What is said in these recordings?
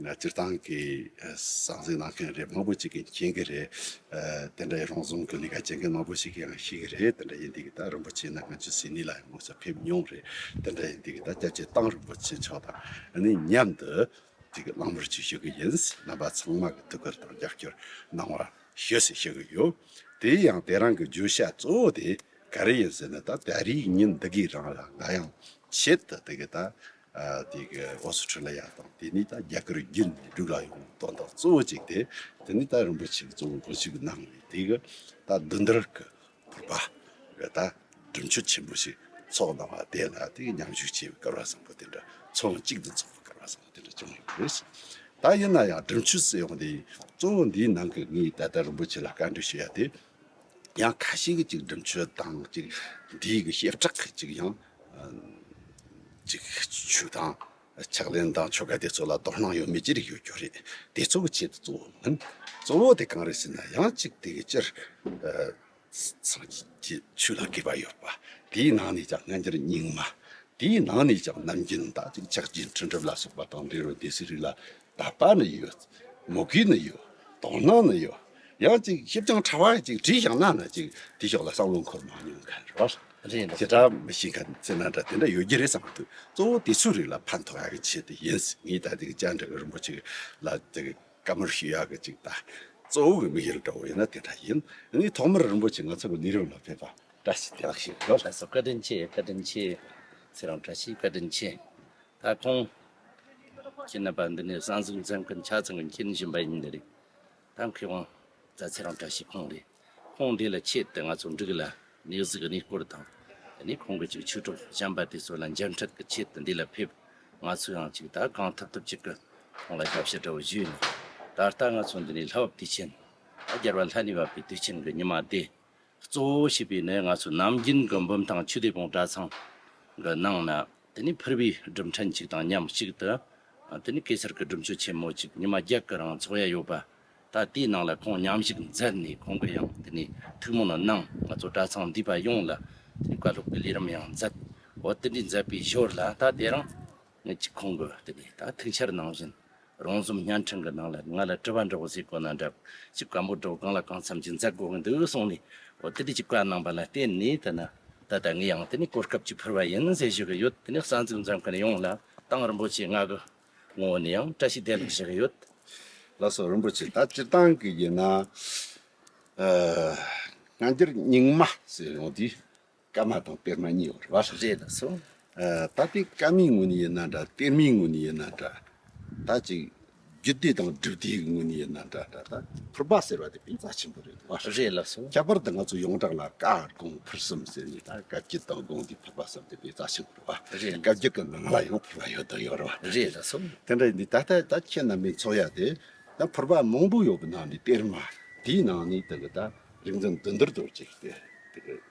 སྤྱིར་བཏང་གི་ཟང་ཟིང་གནང་མཁན་རེ་མང་པོ་ཅིག་གིས་མཁྱེན་གྱི་རེད། དེ་འདྲ་ཡི་རོང་ཟོམ་གྱི་ལས་ཀ་བྱེད་མཁན་མང་པོ་ཞིག་གིས་ཡང་ཤེས་ཀྱི་རེད་དེ་འདྲ་ཡིན་དུས་ཀྱི་ད་རིན་པོ་ཆེ་ནི་ང་ཚོའི་ཟིན་ནི་ལ་ཡང་ངོ་ཚ་ཕེབས་མྱོང་རེད་དེ་འདྲ་ཡིན་དུས་ཀྱི་ད་སྐྱབས་རྗེ་ཏང་རིན་པོ་ཆེ་མཆོག་དང་ནི་མཉམ་དུ་ཅིག་གི་བླང་བར་ཅིག་ཞུ་གི་ཡིན་རྣམ་པ་ཚང་མ་གི་ཐུགས་ཁུར་དང་རྒྱབ་སྐྱོར་གནང་བར་ཞུ་ཟེར་ཤེས་གི་ཡོད། དེའི་ཡང་དེ་རང་གི་བརྗོད་བྱ་གཙོ་བོ་དེ་ག་རེ་ཡིན་ཟེར་ན་ད་ད་རིའི་ཉིན་འདི་གི་རང་ལ་ང་ཡང་ཆེད་དུ་དེ་གི་ད་ཨོ་སི་ཁྲི་ལ་ཡ་དང་དེ་ནས་ད་རྒྱ་གར་བརྒྱུད་ནས་འབྲུག་ལ་ཡོང་དོན་དག་གཙོ་བོ་གཅིག་དེ་དེ་ནས་ད་རིན་པོ་ཆེ་གི་གཙོ་བོ་གོ་ཞིག་གནང་བས་དེ་གི་ད་བདུད་འདུལ་གི་བོད་པ་རེ་ད་སྒྲུབ་མཆོད་ཆེན་པོ་ཞིག་ཚོགས་གནང་བ་དེ་ལ་དེ་གི་མཉམ་ཞུགས་བྱས་པའི་སྐལ་བ་བཟང་པོ་དེ་འདྲ་ཚོགས་ཡོང་གཅིག་ཏུ་འཚོགས་པའི་སྐལ་བ་བཟང་པོ་དེ་འདྲ་བྱུང་ཡོད་པ་རེད་བསམས། ད་ཡིན་ན་ཡང་སྒྲུབ་མཆོད་བསད་ཡོང་དེ་གཙོ་བོ་འདིའི་ནང་གི་ངས་ད་ལྟ་རིན་པོ་ཆེ་ལ་བཀའ་འདྲི་ཞུ་ཡ་དེ་ཡང་ཁ་ཤས་ཀྱིས་ཅིག་སྒྲུབ་མཆོད་དང་ཅིག་འདིའི་གི་བཤད་གྲགས་གིས་ཅིག་ཡང་འགྲིག་ཆུ་དང་ཕྱག་ལེན་དང་ཆོ་ག་དེ་ཚོ་ལ་དོ་སྣང་ཡོད་མེད་ཅི་རིགས་ཡོད་རྒྱུ་རེད། དེ་ཚོ་གི་ཆེད་དུ་གཙོ་བོ་མིན། གཙོ་བོ་དེ་གང་རེད་ཟེར་ན་ཡང་གཅིག་དེ་གི་སྤྱིར་སངས་རྒྱས་ཆོས་ལ་དགོས་པ་ཡོད་པ། དེའི་ནང་ནས་ཀྱང་སྔ་འགྱུར་རྙིང་མ། དེའི་ནང་ནས་ཀྱང་ནམ་རྒྱུན་ད་ཅིག་ཆགས་ཅིག་འཕྲིན་སྒྲུབ་ལ་སོགས་པ་དང་འབྲི་རུ་སྡེ་སྲིད་རིགས་ལ་དད་པ་ནི་ཡོད། མོས་གུས་ནི་ཡོད། དོ་སྣང་ནི་ཡོད། ཡང་ཅིག་ཞིབ་ཅིང་ཕྲ་བ་ཅིག་བྲིས་བཞག་ན་ནི་ཅིག་དེ་ཕྱོགས་ལ་བསམ་བློ་འཁོར་མ་མྱོང་ག་རེ་བ། རེད་འདུག། བྱེ་བྲག་མི་ཤེས་མཁན་ཚོས་ན་འདྲ་དེ་འདྲ་ཡོད་རྒྱུ་རེད་བསམ་མི་ཐུབ། གཙོ་བོ་དེ་ཚོའི་རིགས་ལ་ཕན་ཐོགས་ཡག་གི་ཆེད་དུ་ཡིན་སྲིད་ངས་ད་ཅིག་སྤྱན་དྲངས་རིན་པོ་ཆེ་ལ་ཅིག་བཀའ་མོལ་ཞུ་ཡག་གི་ཅིག་ད་གཙོ་བོ་གི་མི་ཡུལ་འདྲ་བོ་ཡིན་ན་དེ་འདྲ་ཡིན། ངས་ཐོག་མར་རིན་པོ་ཆེ་ང་ཚོ་གི་གནས་རིམ་ལ་ཕེབས་པ་བཀྲ་ཤིས་བདེ་ལགས་ཞེས་བོས། ལྷ་ས་བཀའ་དྲིན་ཆེ་བཀའ་དྲིན་ཆེ། ཚེ་རང་བཀྲ་ཤིས་བཀའ་དྲིན་ཆེ། ད་ཁོང་གི་ནད་པ་འདི་ནས་གསང་གསུམ་མཚན་མཁན་ཕྱག་མཚན་གྱི་མཁྱེན་བཞིན་པ་ཡིན་ནི་རེད། ད་མཁས་དབང་རྫ་ཚེ་རང་བཀྲ་ཤིས་ཁོང་རེད། ཁོང་འདི་ལ་ཆེད་དུ་ང་ཚོ་འབྲུག་ལ་ནས་གཟིགས་གནས་སྐོར་དང། དེ་ནས་ཁོང་གི་ཅིག་ཆོས་གྲོགས་བྱམས་པ་དེ་ཚོ་ལ་མཇལ་འཕྲད་གི་ཆེད་དུ་འདི་ལ་ཕེབས། ང་ཚོ་ཡང་ཅིག་ད་གང་ཐུབ་ཐུབ་ཅིག་གི་ཁོང་ལ་ཞབས་ཕྱི་དྲ་བ་བཞུས་ནས། ད་ལྟ་ང་ཚོ་འདི་ནས་ལྷ་བབ་དུས་ཆེན། ད་རྒྱལ་བ་ལྷ་ནི་བབ་པའི་དུས་ཆེན་གྱི་ཉི་མ་བདེ། གཙོ་བོ་བྱས་པའི་ནི་ང་ཚོ་ནམ་རྒྱུན་གྱི་འབུམ་ཐང་ཆུ་བདེ་བོང་གྲྭ་ཚང་གི་ནང་ན་དེ་ནས་ཕུར་བུའི་སྒྲུབ་ཕྲན་གཅིག་དང་མཉམ་གཅིག་ཏུ་དེ་ནས་གེ་སར་གྱི་སྒྲུབ་མཆོད་ཆེན་མོ་གཅིག་ཉི་མ་བརྒྱད་ཀྱི་རིང་འཚོགས་ཡས་ཡོད་པ་ད་དེའི་ནང་ལ་ཁོང་མཉམ་ཞུགས་མཛད་ནས་ཁོང་གི་ཡང་དེ་ནས་ཐུགས་སྨོན་གནང་ང་ཚོ་གྲྭ་ཚང་འདུས་པ་ཡོངས་ལ་དེ་ནས་བཀའ་སློབ་ཀྱི་ལས་རིམ་ཡང་མཛད་འོ་དེ་འདྲའི་མཛད་པའི་ཞོར་ལ་ད་དེ་རིང། ངེད་ཀྱི་ཁོང་གི་དེ་ནས་ད་ཐུག་ཆར་ནང་བཞིན་རང་རྩོམ་བརྙན་འཕྲིན་གྱི་ནང་ལ་ང་ལ་དྲི་བ་འདྲི་བ་ཟིག་གོ་ན་འདྲ་ཅི་བཀའ་འབོད་སྒྲོག་གང་ལ་གང་འཚམ་གྱི་མཛད་དགོས་ཀྱི་འདུག་གསུངས་ནས་འོ་དེ་དུས་ཀྱི་བཀའ་གནང་པ་ལ་བརྟེན་ནས་ད་ནི་ད་ལྟ་ངས་ཡང་དེ་ནས་གོ་སྐབས་ཅིག་ཕུལ་བ་ཡིན་ཟེར་ཞུ་གི་ཡོད་དེ་ནས་རྩ་འཛུགས་འཛིན་མཁན་ཡོངས་ལ་ཏང་རིན་པོ་ཆེའི་ངག་གི་ངོ་བོ་ནས་ཡང་བཀྲ་ཤིས་བདེ་ལེགས་ཞུ་གི་ཡོད། བླ་སྲོག་རིན་པོ་ཆེ་ད་སྤྱིར་བཏང་གི་ཡིན་ན་ཨ་སྔ་འདིར་རྙིང་མ་ཟེར་ཡོང་དུས་སྐར་མ་དང་པདྨ་གཉིས་བར་བར་རེ་ལ་སོང། ད་དེ་སྐར་མའི་ངོ་ནས་ཡིན་ན་འདྲ་པདྨའི་ངོ་ནས་ཡིན་ན་འདྲ། ད་ཅིག་རྒྱུད་སྡེ་དང་སྒྲུབ་སྡེའི་ངོ་ནས་ཡིན་ན་འདྲ་འདྲ་ད། ཕུར་པ་ཟེར་བ་དེ་དཔེ་རྩ་ཆེན་པོ་རེད་བར་རེ་ལ་སོང། ཁྱད་པར་དུ་ང་ཚོ་ཡོངས་གྲགས་ལ་ཀ་གོང་ཕུར་གསུམ་ཟེར་ནས་ད་བཀའ་བརྒྱུད་དང་དགོངས་འདུས་ཕུར་པ་གསུམ་དེ་དཔེ་རྩ་ཆེན་པོ་རེད་བར་རེ་ལ་སོང། བཀའ་བརྒྱུད་ཀྱི་ནང་ལ་ཡང་ཕུར་པ་ཡོད་དོ་ཡོད་རེད་བར་རེ་ལ་སོང། དེ་འདྲ་ཡིན་དུས་ད་ལྟ་ད་ཁྱེད་རྣམ་པའི་ཚོགས་ཡ་དེ་ད་ཕུར་པ་མང་པོ་ཡོད་པའི་ནང་ནས་པདྨ་དེའི་ནང་ནས་དེ་གི་ད་རིག་འཛིན་བདུད་འདུལ་རྡོ་རྗེ་དེ་དེ་གི།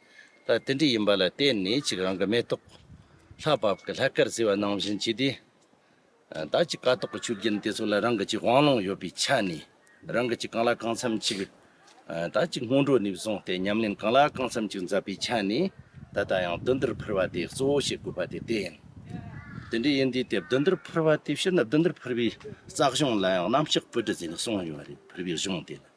ལ་རྟེན་འབྲེལ་ཡིན་པ་ལ་བརྟེན་ནས་ཅིག་རང་གི་མེ་ཏོག། ལྷ་བབས་ཀྱི་ལྷ་སྐལ་བསིལ་བ་ནང་བཞིན་བྱས་ཏེ། བདག་གི་ཀ་ཏོག་གི་ཆུ་རྒྱུན་དེ་ཚོ་ལ་རང་གི་ཅིག་དབང་ལུང་ཡོད་པའི་ཆ་ནས་རང་གི་ཅིག་གང་ལ་གང་འཚམ་ཅིག། བདག་གི་སྔོན་འགྲོ་ནས་བཟུང་སྟེ་ཉམས་ལེན་གང་ལ་གང་འཚམ་ཅིག་མཛད་པའི་ཆ་ནས་ད་ལྟ་ཡང་བདུད་འདུལ་ཕུར་བ་དེ་གཙོ་བོ་བྱེད་དགོས་པ་དེ་བསྟན། དེ་འདྲའི་ཡིན་དུས་དེ་བདུད་འདུལ་ཕུར་བ་དེ་ཕྱིར་ན་བདུད་འདུལ་ཕུར་བའི་རྩ་གཞུང་ལ་ཡང་རྣམ་གཅོག་པོད་དྲུག་ཟེར་ནས་གསུངས་ཡོད་པ་རེད་ཕུར་བའི་གཞུང་དེ་ལ།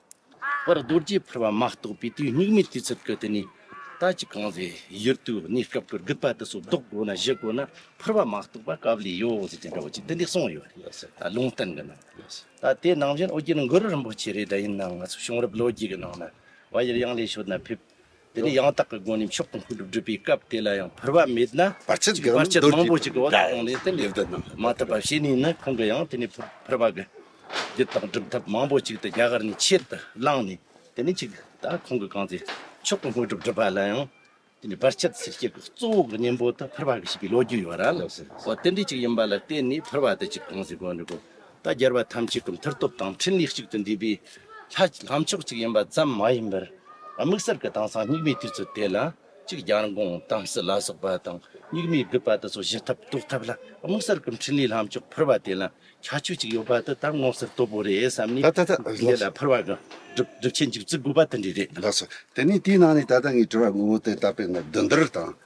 པར་རྡོ་རྗེ་ཕུར་པ་མ་གཏོགས་པའི་དུས་སྙིགས་མའི་དུས་ཚོད་ཀྱི་དུས་ནི། ད་ཅི་གང་ཟེ་ཡུལ་དུ་གནས་སྐབས་ཀྱི་རྒུད་པ་དུ་སོ་བཟློག་དགོས་ན་བཞི་དགོས་ན་ཕུར་པ་མ་གཏོགས་པ་སྐབས་ལས་ཡོ་ཟེར་གྱི་འདྲ་བོ་ཅིག་དེ་འདི་གསུངས་ཡོད་རེད་ལུང་བསྟན་གྱི་ནང་ད་ལྟའི་ནང་བཞིན་ཨོ་རྒྱན་གུ་རུ་རིན་པོ་ཆེ་རེད་དྲ་ཡིན་ནའང་ང་ཚོ་བྱུང་རབས་ལོ་རྒྱུས་ཀྱི་ནང་ན་བ་ཡར་ཡང་ལས་ཤོར་ན་ཕེབས། དེ་ནས་ཡང་དག་གི་སྒོ་ནས་མཆོག་ཏུ་འཁོད་དུ་བསྒྲུབ་པའི་སྐབས་དེ་ལ་ཡང་འཕུར་བ་མེད་ན། བར་ཆད་གྱི་བར་ཆད་མང་པོ་ཅིག་གི་འོག་ཏུ་ལྷུང་ནས་དེ་ལས་བསྒྲུབ་མ་ཐུབ་པ་བྱས་ནས་ནི་ཁོང་གི་ཡང་དེ་ནས་འཕུར་བ་གི་རྒྱུ་དང་སྒྲུབ་ཐབས་མང་པོ་ཅིག་དེ་རྒྱ་གར་ནས་ཕྱིར་དུ་བླངས་ནས་དེ་ནས་ཅིག་ད་ཁོང་གི་གང་ཚེ་མཆོག་ཏུ་འཁོད་དུ་བསྒྲུབ་པ་ལ་ཡང་དེ་ནས་བར་ཆད་སེལ་བྱེད་ཀྱི་གཙོ་བོ་གི་གཉེན་པོ་དུ་འཕུར་བ་གི་བྱེད་པའི་ལོ་རྒྱུས་ཡོད་ར་ལ་འོ་དེ་འདྲས་ཅིག་ཡིན་པ་ལ་བརྟེན་ནས་འཕུར་བ་དེ་ཅིག་གང་ཚེ་དགོས་འདུག་གོ། ད་རྒྱལ་བ་ཐམས་ཅད་ཀྱི་མཐུ་སྟོབས་དང་ཕྲིན་ལས་གཅིག་ཏུ་འདུས་པའི་ལྷ་ལྷ་མཆོག་གཅིག་ཡིན་པ་ཙམ་མ་ཡིན་པར། དམིགས་བསལ་གྱི་དེང་སང་སྙིགས་མའི་དུས་སུ་དེ་ལ་གཅིག་རྒྱལ་འགོང་དམ་སྲི་ལ་སོགས་པ་དང་སྙིགས་མའི་རྒུད་པ་དུ་སོགས་བཞི་ཐབས་རྟོགས་ཐབས་ལ་དམིགས་བསལ་གྱི་ཕྲིན་ལས་ལྷ་མཆོག་ཕུར་བ་དེ་ལ་ཁྱད་ཆོས་གཅིག་ཡོད་པ་དེ་ལྟར་དངོས་གསལ་སྟོབས་པོ་རེད་བསམ་ནས་དེ་ལ་ཕུར་བ་གྱི་སྒྲུབ་བྱེད་འཇུག་ཚུལ་དགོས་པ་དེ་འདྲའི་རེད། ལགས་སོ། དེ་ནས་དེའི་ནང་ནས་ད་ལྟ་ངས་བྲི་བར་དངོས་པོ་དེ་ལྟ་བས་ན་བདུན་བདུན་རེ་དང།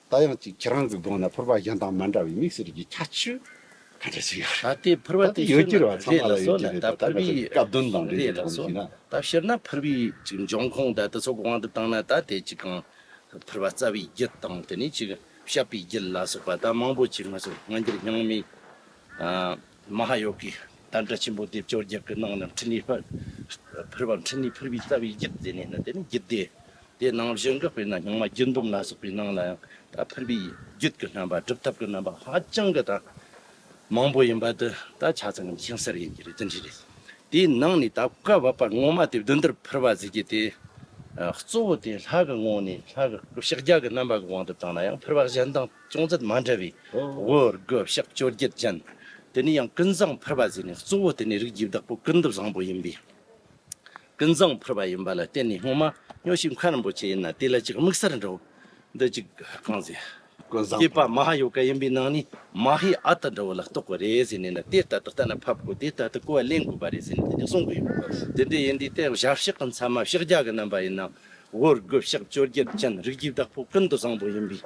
ད་ཡང་ཅིག་ཁྱེད་རང་ཚོའི་གདོང་ན་ཕུར་པ་གཞན་དང་མ་འདྲ་བའི་མིག་ཟེར་གྱི་ཁྱ་ཆུ་ག་འདྲ་ཞིག་ཡོད་རེད། ད་ལྟའི་ཕུར་པ་དེ་ཤོར་ན་རེད་ལགས་སོ་ལ་ད་ཕུར་བུའི་རེད་ལགས་སོ་ད་ཤོར་ན་ཕུར་བུའི་ཅིག་འབྱུང་ཁུངས་ད་དེ་ཚོ་གང་དུ་བཏང་ན་ད་དེ་ཅིག་གང་ཕུར་བ་རྩ་བའི་རྒྱུད་དང་དེ་ནས་ཅིག་བཤད་པའི་རྒྱུད་ལ་སོགས་པ་ད་མང་པོ་ཅིག་ང་ཚོ་སྔ་འགྱུར་སྙིང་མའི། མ་ཧཱ་ཡོ་གའི་དམ་བཅའ་ཆེན་པོ་སྡེབ་སྦྱོར་བརྒྱད་ཀྱི་ནང་ནས་འཕྲིན་ལས་ཕུལ་བ་འཕྲིན་ལས་ཕུལ་བའི་རྩ་བའི་རྒྱུད་སྡེ་ནས་ནི་དེ་ནི་རྒྱུད་སྡེ་དེ་ནང་བཞི་འགགས་པས་ན་རྙིང་མ་རྒྱུད་འབུམ་ལ་སོགས་པའི་ནང་ལ་ཡང་དག་ཕུལ་བའི་རྒྱུད་ཀྱི་རྣམ་པ་སྒྲུབ་ཐབས་ཀྱི་རྣམ་པ་ཧ་ཅང་གི་དང་མང་པོ་ཡིན་པ་འདི་ད་ཆ་ཚང་ངམ་ཤིང་གསེར་ཡིན་གྱི་རེད་དེ་འདྲའི་རེད། དེའི་ནང་ནས་ད་བཀའ་བབས་པ་ངོ་མ་དེ་བདུན་དེར་ཕུལ་བ་ཟེར་གྱི་དེ་གཙོ་བོ་དེ་ལྷ་གི་ངོ་ནས་ལྷ་གི་བཤགས་རྒྱ་གི་རྣམ་པ་གི་དབང་དུ་བཏང་ན་ཡང་ཕུལ་བ་གཞན་དང། ཅུང་ཟད་མ་འདྲ་བའི་དབུ་རྒོད་གཤག་བཅོ་བརྒྱད་ཅན། དེ་ནས་ཡང་ཀུན་བཟང་ཕུར་པ་ཟེར་ནས་གཙོ་བོ་དེ་ནི་རིགས་བརྒྱུད་བདག་པོ་ཀུན་རྡོ་བཟང་པོ་ཡིན་པས་ཀུན་བཟང་ཕུར་པ་ཡིན་པ་ལ་བརྟེན་ནས་སྔོན་མ་སྨྱོ་ཞིག་མཁའ་རིན་པོ་ཆེ་ཡིན་ན་དེ་ལ་ཅིག་དམིགས་གསར་འདྲ་བོ་འདི་ཅིག་གང་ཟེ། ཀུན་བཟང་ཕུར་པ་མ་ཧཱ་ཡོ་ག་ཡིན་པའི་ནང་ནས་མ་ཧཱའི་ཨ་ཏི་འདྲ་བོ་ལ་གཏོགས་པ་རེད་ཟེར་ནས་ན་དེ་ལྟ་སྟེ་ལྟ་ན་ཕབ་དགོས་དེ་ལྟ་སྟེ་གོ་བ་ལེན་དགོས་པ་རེད་ཟེར་ནས་དེ་ནས་གསུངས་གི་ཡོད། དེ་འདྲའི་ཡིན་དུས་དེ་ཞབས་གཤག་གི་མཚམས་མ་ཞག་བརྒྱ་གི་རྣམ་པ་ཡིན་ན་དབུ་རྒོད་གཤག་བཅོ་བརྒྱད་ཅན་རིགས་བརྒྱུད་བདག་པོ་ཀུན་རྡོ་བཟང་པོ་ཡིན་པས་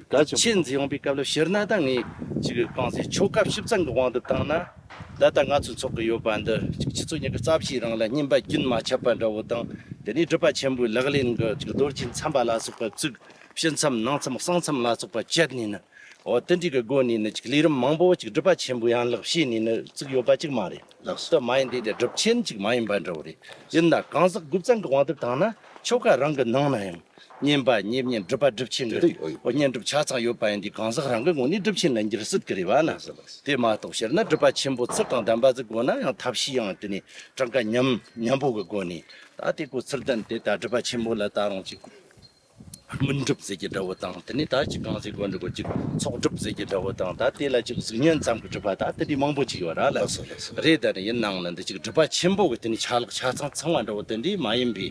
ད་ཕྱིན་འཛིན་ཡོང་པའི་སྐབས་ལ་ཤི་ན་ད་ངས་ཅིག་རྐང་ཟེར་ཆོ་ག་བཞི་བཙན་གྱི་དབང་དུ་བཏང་ན། ད་ལྟ་ང་ཚོས་འཚོགས་ཀྱི་ཡོད་པ་འདི་ཅིག་ཁྱི་ཚོ་གཉིས་ཀྱི་རྩ་བཞིའི་རང་ལ་སྙིམ་པ་རྒྱུན་མ་ཆད་པ་འདྲ་བོ་དང་དེ་ནས་སྒྲུབ་པ་ཆེན་པོའི་ལག་ལེན་གྱི་ཅིག་རྡོ་རྗེ་འཚམས་པ་ལ་སོགས་པ་བཙུགས། ཕྱི་མཚམས་ནང་མཚམས་གསང་མཚམས་ལ་སོགས་པ་བཅད་ནས་ནི། འོ་དེ་འདྲའི་གི་སྒོ་ནས་ནི་ཅིག་ལས་རིམ་མང་པོ་ཅིག་སྒྲུབ་པ་ཆེན་པོའི་ཡན་ལག་བྱས་ནས་ནི་བཙུགས་ཡོད་པ་ཅིག་མ་རེད། ལགས་སོ། མ་ཡིན་དེ་འདྲའི་སྒྲུབ་ཆེན་ཅིག་མ་ཡིན་པ་འདྲ་བོ་རེད། ཡིན་ན་གང་ཟག་དགུ་བཙན་གྱི་དབང་དུ་བཏང་ན་ཆོ་ག་རང་གི་ནང་ན་ཡང། བསྙེན་པ་བསྙེན་བསྙེན་སྒྲུབ་པ་སྒྲུབ་ཆེན་འདི་བསྙེན་སྒྲུབ་ཆ་ཚང་ཡོད་པ་ཡིན་དུས་གང་ཟག་རང་གི་ངོ་ནས་སྒྲུབ་ཆེན་ལ་འགྱུར་སྲིད་ཀྱི་རེད་བ་ན། དེ་མ་གཏོགས་སྤྱིར་ན་སྒྲུབ་པ་ཆེན་པོ་ཚུལ་དང་ལྡན་པ་ཟིག་དགོས་ན་ཡང་ཐབས་ཤེས་ཡང་དེ་ནས་གྲངས་ཀ་མཉམ་མཉམ་པོ་གི་སྒོ་ནས་ད་ལྟའི་སྐོར་ཚུལ་ལྡན་དེ་ལྟར་སྒྲུབ་པ་ཆེན་པོ་ལ་ད་རུང་ཅིག་མུན་སྒྲུབ་ཟེར་གྱི་འདྲ་བོ་དང་དེ་ནས་ད་ཅིག་གང་ཟེར་དགོས་འདུག་གོ་ཅིག་ཚོགས་སྒྲུབ་ཟེར་གྱི་འདྲ་བོ་དང་ད་དེ་ལ་ཅིག་གཟུགས་བརྙན་ཙམ་གྱི་སྒྲུབ་པ་ད་དེ་འདྲའི་མང་པོ་ཅིག་ཡོད་ར་ལ། རེད་དེ་འདྲ་ཡིན་ནའང་ལ་འདི་གཅིག་སྒྲུབ་པ་ཆེན་པོ་གི་དེ་ནི་ཆ་ལག་ཆ་ཚང་ཚང་བ་འདྲ་བོ་དེ་འདྲའི་མ་ཡིན་པའི་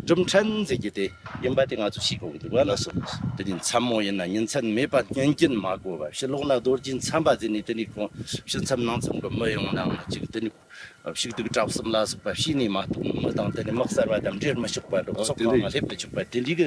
གྲུབ་མཐའ་མཛད་རྒྱུ་དེ་ཡིན་པ་དེ་ང་ཚོས་ཤེས་དགོས་ཀྱི་འདུག་ག་ལགས་སོ། དེ་འདྲའི་མཚམས་མོ་ཡིན་ན་ཉིན་མཚན་མེད་པར་བསྙོན་སྐྱོན་མ་གོ་བར་ཕྱི་ལོག་ན་རྡོ་རྗེའི་མཚམས་པ་དེ་ནས་དེ་ནས་ཁོང་ཕྱི་མཚམས་ནང་མཚམས་གི་མི་ཡོང་ནའང་ལ་གཅིག་དེ་ནས་ཕྱུགས་དུག་བྲག་གསུམ་ལ་སོགས་པ་བྱས་ནས་མ་གཏོགས་མི་དང་དེ་ནས་དམག་གསར་པ་དང་འབྲེལ་མི་ཆོག་པ་འགྲོ་ཕྱོགས་གང་ལ་སླེབས་མི་ཆོག་པ་དེ་འདྲའི་གི་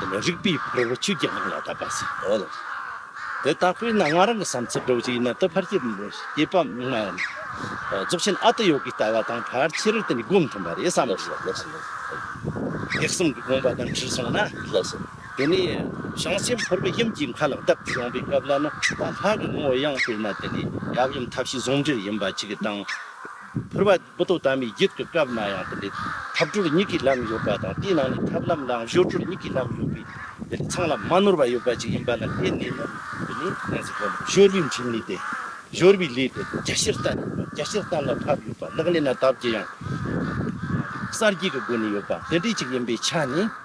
དེ་ནས་རིག་པའི་ཕུར་བུ་ཆོས་ཀྱི་དབང་ལ་བཏབ་པ་བྱའོ། དེ་ལྟ་བུའི་ན་ང་རང་གི་བསམ་ཚུལ་སྒྲོག་རྒྱུ་ཡིན་ན་ཏུ་ཕར་སྐྱེལ་མི་སྐྱེལ་པ་མིག་སྨན་ཡིན། རྫོགས་ཆེན་ཨ་ཏི་ཡོ་གའི་ལྟ་བ་དང་ཕར་ཕྱིར་དེ་ནི་སྒོམ་མཐུན་པ་རེད་བསམ་གྱི་ཡོད། ཐེག་གསུམ་གྱི་དགོངས་པ་དང་ཁྲིད་སོང་ན། དེ་ནས་བྱང་སེམས་ཕུར་བུ་གཡེམ་གྱི་མཁའ་ལ་བཏབ་སྟེ་ཡོང་པའི་སྐབས་ལ་ན་ད་ལྷ་གི་ངོ་བོ་ཡང་དཔེར་ན་དེ་ནི་ཡབ་ཡུམ་ཐབས་ཤེས་ཟུང་འབྲེལ་ཡིན་པ་གཅིག་དང། ཕུར་བ། བུ་དོ་དམ་པའི་རྒྱུད་ཀྱི་སྐབས་ན་ཡང་དེ་ལས་ཐབས་གྲོལ་གཉིས་ཀྱི་ལམ་ཡོད་པ་དང་དེའི་ནང་ནས་ཐབས་ལམ་ལའང་གཞུག་གྲོལ་གཉིས་ཀྱི་ལམ་ཡོད་པས་དེ་ལས་ཚང་ལམ་མ་ནོར་བ་ཡོད་པ་ཅིག་ཡིན་པ་ལ་བརྟེན་ནས་ནི་དེ་ནི་ཡང་ཟེར་བ་ལ་གཞོལ་བའི་འཕྲིན་ལས་ཏེ། གཞོལ་བའི་ལས་དེ་རྒྱ་ཆེར་བསྟན་ཡོད་པ་རྒྱ་ཆེར་བསྟན་ལ་ཐབས་ཡོད་པ་ལག་ལེན་ན་ཐབས་ཀྱི་ཡང་གསར་སྐྱེས་ཀྱི་སྒོ་ནས་ཡོད་པ་དེ་འདྲའི་ཅིག་ཡིན་པའི་ཆ་ནས།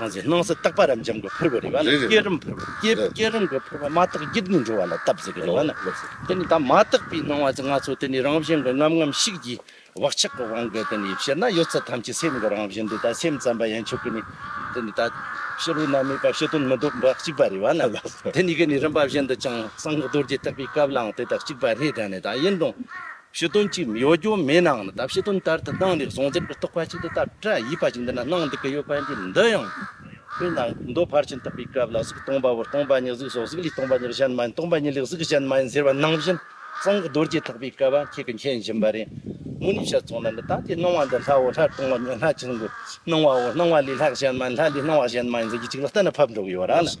གང་ཚེ་སྣང་སྲིད་རྟག་པ་རབ་འབྱམས་ཀྱི་ཕུར་བུ་རེད་པ་ནི་བསྐྱེད་རིམ་ཕུར་བུ་བསྐྱེད་རིམ་གྱི་ཕུར་བུ་མ་དག་དབྱིབས་ནི་འགྲོ་བ་ལ་བཏབ་ཟེར་གི་རེད་བ་ནི་དེ་ནི་ད་མ་དག་པའི་སྣང་བ་ཅིག་ང་ཚོ་དེ་ནི་རང་བཞིན་གྱི་རྔམ་རྔམ་ཤིག་གིས་བག་ཆགས་ཀྱི་དབང་གིས་དེ་ནི་བཤད་ན་ཡོད་ཚད་ཐམས་ཅད་སེམས་ཀྱི་རང་བཞིན་དེ་ད་སེམས་ཙམ་པ་ཡན་ཆོད་ཀྱི་ནི་དེ་ནི་ད་ཕྱི་རོལ་ན་མེད་པ་ཕྱི་དོན་མི་ལྡོག་པ་གཅིག་པ་རེད་བ་ནི་དེ་ནི་གི་ནི་རིམ་པ་བཞིན་དུ་ཅིང་གསང་གི་རྡོ་རྗེ་ཐེག་པའི་སྐབས་ལའང་དེ་ལྟར་གཅིག་པ་རེད་དྲན་ནས་ད་ཡིན་རུང། ཞི་དོན་གཅིག་གཡོ་སྒྱུ་མའི་ནང་ལ་དག་ཞི་དོན་ལྟར་དུ་སྣང་ལེགས་ཟུང་འཛིན་གྱི་རྟོག་པ་ཅིག་ཏུ་བཏབ་སྤྲ་ཡིས་པ་ཅིག་འདི་ན་སྣང་འདི་ག་ཡོད་པ་འདི་འདི་ཡང་ཁོའི་ནང་གི་མདོ་ཕར་ཕྱིན་བཏབ་པའི་སྐབས་ལ་གཟུགས་སྟོང་པ་བོར་སྟོང་པ་ཉིད་གཟུགས་སོགས་གཟུགས་ལས་སྟོང་པ་ཉིད་གཞན་མ་ཡིན་སྟོང་པ་ཉིད་ལས་གཟུགས་གཞན་མ་ཡིན་ཟེར་བ་ནང་བཞིན་གསང་གི་རྡོ་རྗེ་ཐོགས་པའི་སྐལ་བ་ཁྱེད་ཀྱི་མཁྱེན་བཞིན་པ་རེད། མུ་ནི་ཞལ་ཚོགས་ན་འདི་ལྟ་སྟེ་སྣང་བ་འདི་ལྷའོ་ལྷར་སྟོང་བ་ཉིད་ལྷ་ཆེན་པོའི་སྣང་བའོ་སྣང་བ་ལས་ལྷ་གཞན་མ་ཡིན་ལྷ་ལས་སྣང་བ་གཞན་མ་ཡིན་ཟེར་རྒྱུ་གཅིག་ལ་གཏན་ལ་ཕབ་འགྲོ་གི་ཡོད་རང་ལ།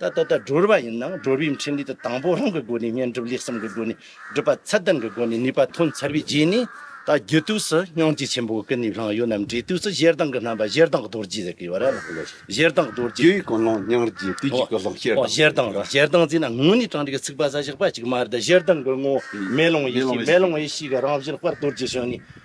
ད་ལྟ་ད་སྒྲོལ་བ་ཡིན་ནའང་སྒྲོལ་བའི་འཕྲིན་ལས་དེ་དང་པོ་རང་གི་སྒོ་ནས་བསྙེན་སྒྲུབ་ལེགས་གསུམ་གྱི་སྒོ་ནས་སྒྲུབ་པ་ཚད་ལྡན་གྱི་སྒོ་ནས་ནུས་པ་ཐོན་ཚར་བའི་རྗེས་ནས་ད་རྒྱུད་དུས་སུ་སྙིང་རྗེ་ཆེན་པོའི་ཀུན་ནས་བསླངས་ཡོད་རྣམས་འབྲས་དུས་སུ་གཞལ་དྭངས་ཀྱི་རྣམ་པ་གཞལ་དྭངས་རྡོ་རྗེ་ཟེར་གྱི། གཞལ་དྭངས་རྡོ་རྗེ། རྒྱུའི་ཀུན་སློང་སྙིང་རྗེ་དུས་གཅིག་ཏུ་སློང་གཞལ་དྭངས། གཞལ་དྭངས་ལ་གཞལ་དྭངས་ཟེར་ན་ངོས་ནས་དྲངས་རིགས་ཚིག་པ་ས་བཞག་པ་གཅིག་མ་རེད་གཞལ་དྭངས་ཀྱི་ངོ་བོ་མེ་ལོང་ཡེ་ཤེས་མེ་ལོང་ཡེ་ཤེས་ཀྱི་རང་བཞིན་སྤར་རྡོ་རྗེ་བྱོན་ནས་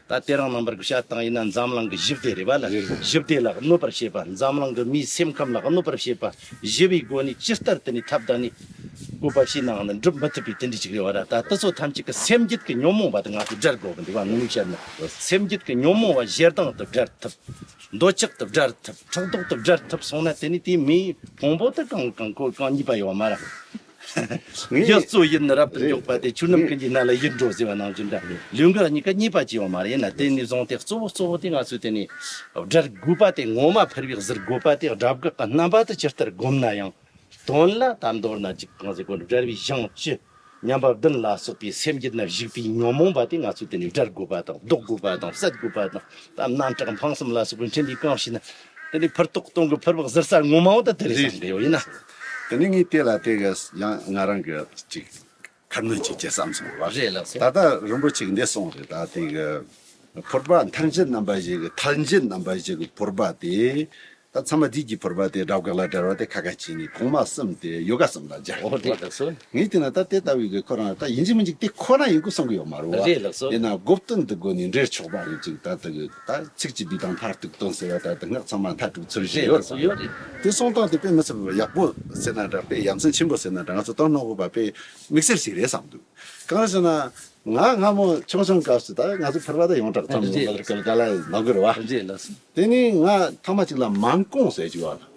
ད་ལྟའི་རང་རྣམ་པར་གྱི་བྱ་བཏང་ཡིན་ན་འཛམ་གླིང་གི་བཞི་བདེ་རེད་པ་ལ་བཞི་བདེ་ལ་གནོད་པར་བྱེད་པ་འཛམ་གླིང་གི་མིའི་སེམས་ཁམས་ལ་གནོད་པར་བྱེད་པ་བཞི་བའི་སྒོ་ནས་ཅི་ལྟར་དེ་ནས་ཐབས་བདག་ནི་བཀོད་པ་ཞིག་ནའང་ནི་འགྲུབ་མི་ཐུབ་པའི་དེ་འདྲའི་གཅིག་རེད་བ་ད་ལྟ་སོ་ཐམས་ཅད་ཀྱི་སེམས་བརྒྱུད་ཀྱི་ཉོན་མོངས་པ་དེ་ང་ཚོས་བསྒྲལ་དགོས་པ་འདུག་བ་ངོས་བཤད་ན་སེམས་བརྒྱུད་ཀྱི་ཉོན་མོངས་བ་བཞི་སྡང་དུ་བསྒྲལ་ཐུབ། འདོད་ཆགས་དུ་བསྒྲལ་ཐུབ་ཕྲག་དོག་དུ་བསྒྲལ་ཐུབ་སོང་ན་དེ་ནས་དེའི་མིའི་ཕུང་པོ་དེ་གང་གང་དཀོན་གང་ཉེས་པ་ཡོད་མ་རེད། ཡུལ་གཙོ་ཡི་ནི་རབ་ཏུ་མགྱོགས་པ་དེ་ཆུ་རྣམས་ཀུན་གྱི་སྣ་ལ་ཡིད་འགྲོ་ཟེར་བ་ནང་བཞིན་འདྲ་ལུས་འགགས་གཉིས་ཀ་གཉིས་པ་བཅས་པ་མ་ཡིན་ན་དེ་ནས་བཟུང་སྟེ་གཙོ་བོ་གཙོ་བོ་དེ་ང་ཚོས་དེ་ནས་སྒྲར་དགོས་པ་དེ་ངོ་མ་ཕེར་བའི་གཟིར་དགོས་པ་དེ་སྒྲ་དགག་གི་རྣམ་པ་དུ་ཇི་ལྟར་བསྒོམ་ན་ཡང་དོན་ལ་ད་མདོར་ན་གཅིག་གང་ཟེར་གོ་སྒྲ་བའི་གཞང་བཅུ་མཉམ་པ་བདུན་ལ་སོགས་པའི་སེམས་ཀྱི་ནི་བཞུགས་པའི་ཉོན་མོངས་པ་དེ་ང་ཚོས་དེ་ནས་སྒྲར་དགོས་པ་དང་ལྡོག་དགོས་པ་དང་བསལ་དགོས་པ་དང་དམ་སྣ་ཁྲག་འཕང་གསུམ་ལ་སོགས་པའི་འཕྲིན་ལས་གང་ཞིག་ནི་དེ་ནས་ཕུར་ཏོག་སྟོང་གི་ཕུར་བག་གཟིར་ས་ངོ་མ་བ་དང་དེ་ལས་བསམ་པའི་ཡོད་ན། དེ་ནས་ངས་དེ་ལ་དེ་ག་ཡང་ང་རང་གི་ཅིག་ཁ་སྣོན་བྱེད་ཅེས་བསམ་སོང་བར། ད་ལྟ་རིན་པོ་ཆེ་འདས་སོང་རེད་ད་དེ་ག་ཕོར་པ་མཐར་མཇལ་རྣམ་པ་བཞི་གི་མཐར་མཇལ་རྣམ་པ་བཞི་གི་ཕོར་པ་དེ་ད་ཚང་མ་དུས་ཀྱི་ཕོར་པ་དེ་སྦྲ་བཀག་ལ་དལ་བ་དེ་ཁ་ཁ་བྱས་ནས་གོང་མ་གསུམ་དེ་ཡོ་ག་གསུམ་ལ་སྦྱར་འོ་རེད་ལགས་སོ། ངས་དེ་ན་ད་དེ་ལྟ་བུའི་གི་ཁོ་རང་ད་ཡིན་གཅིག་མིན་གཅིག་དེ་ཁོ་ན་ཡིན་སྐུ་གསུང་གི་ཡོད་མ་རུ་བ་རེད་ལགས་སོ། དེ་ན་སྒོ་བསྟུན་དུ་སྒོ་ནས་འབྲེལ་ཆོག་པ་ཡིན་ཅིག་ད་དེ་གི། ད་ཚིག་གཅིག་བསྡུས་དང་མཐར་གཏུགས་སྟོན་ཟེར་བ་ལྟར་དུ་སྔགས་ཚང་མ་མཐར་གྲུབ་ཚུལ་བཞེས་ཡོད་རེད། དེ་གསུང་སྟངས་དེ་དཔེ་མི་ཚབ་ཡག་པོ་ཟེར་ན་འདྲ་དཔེ་ཡ་མཚན་ཆེན་པོ་ཟེར་ན་འདྲ་ང་ཚོ་སྟོན་རྣོ་བོ་པ་དཔེ་མིག་སེར་ཞིག་རེད་བསམ་འདུག་གང་ལ་ཟེར་ན། ང་སྔ་མོ་ཆུང་ཆུང་སྐབས་སུ་ད་ང་ཚོ་ཕུར་པ་དང་ཡོངས་གྲགས་ཚང་མས་མགོ་ལ་ནག་གི་རེད་བ། དེ་ནས་ང་ཐ་མ་གཅིག་ལ་མང་ཀོང་ཟེར་གཅིག་བ་ལ།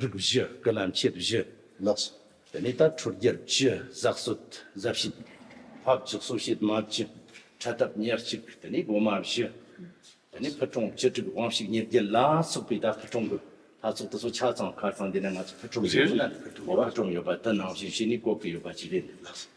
རིགས་བཞི་སྐུ་ལམ་ཁྱད་བཞི་ལགས་སོ། དེ་ནས་ད་ཁྲོ་རྒྱལ་བཅུ་གཟགས་གསོད་གཟའ་བྱིན། ཕ་བརྒྱུད་གསོ་བྱེད་མ་བརྒྱུད་ཁྲལ་བསྟབ་ཉེར་གཅིག་དེ་ནས་སྒོ་མ་བཞི། དེ་ནས་ཕུད་གྲོང་བཅུ་དྲུག་དབང་བཤིག་ཉེར་བརྒྱད་ལ་སོགས་པའི་ད་ཕུད་གྲོང་གི་ལྷ་ཚོགས་དུ་སོ་ཆ་ཚང་ཁར་ཚང་འདི་ན་ང་ཚོ་ཕུད་གྲོང་ཡོད་ན་ཕུད་གྲོང་ཡོད་པ་དུ་ནང་བཞིན་བྱས་ནས་བཀོད་ཀྱི་ཡོད་པ་ཅི་རེད་ལགས་སོ།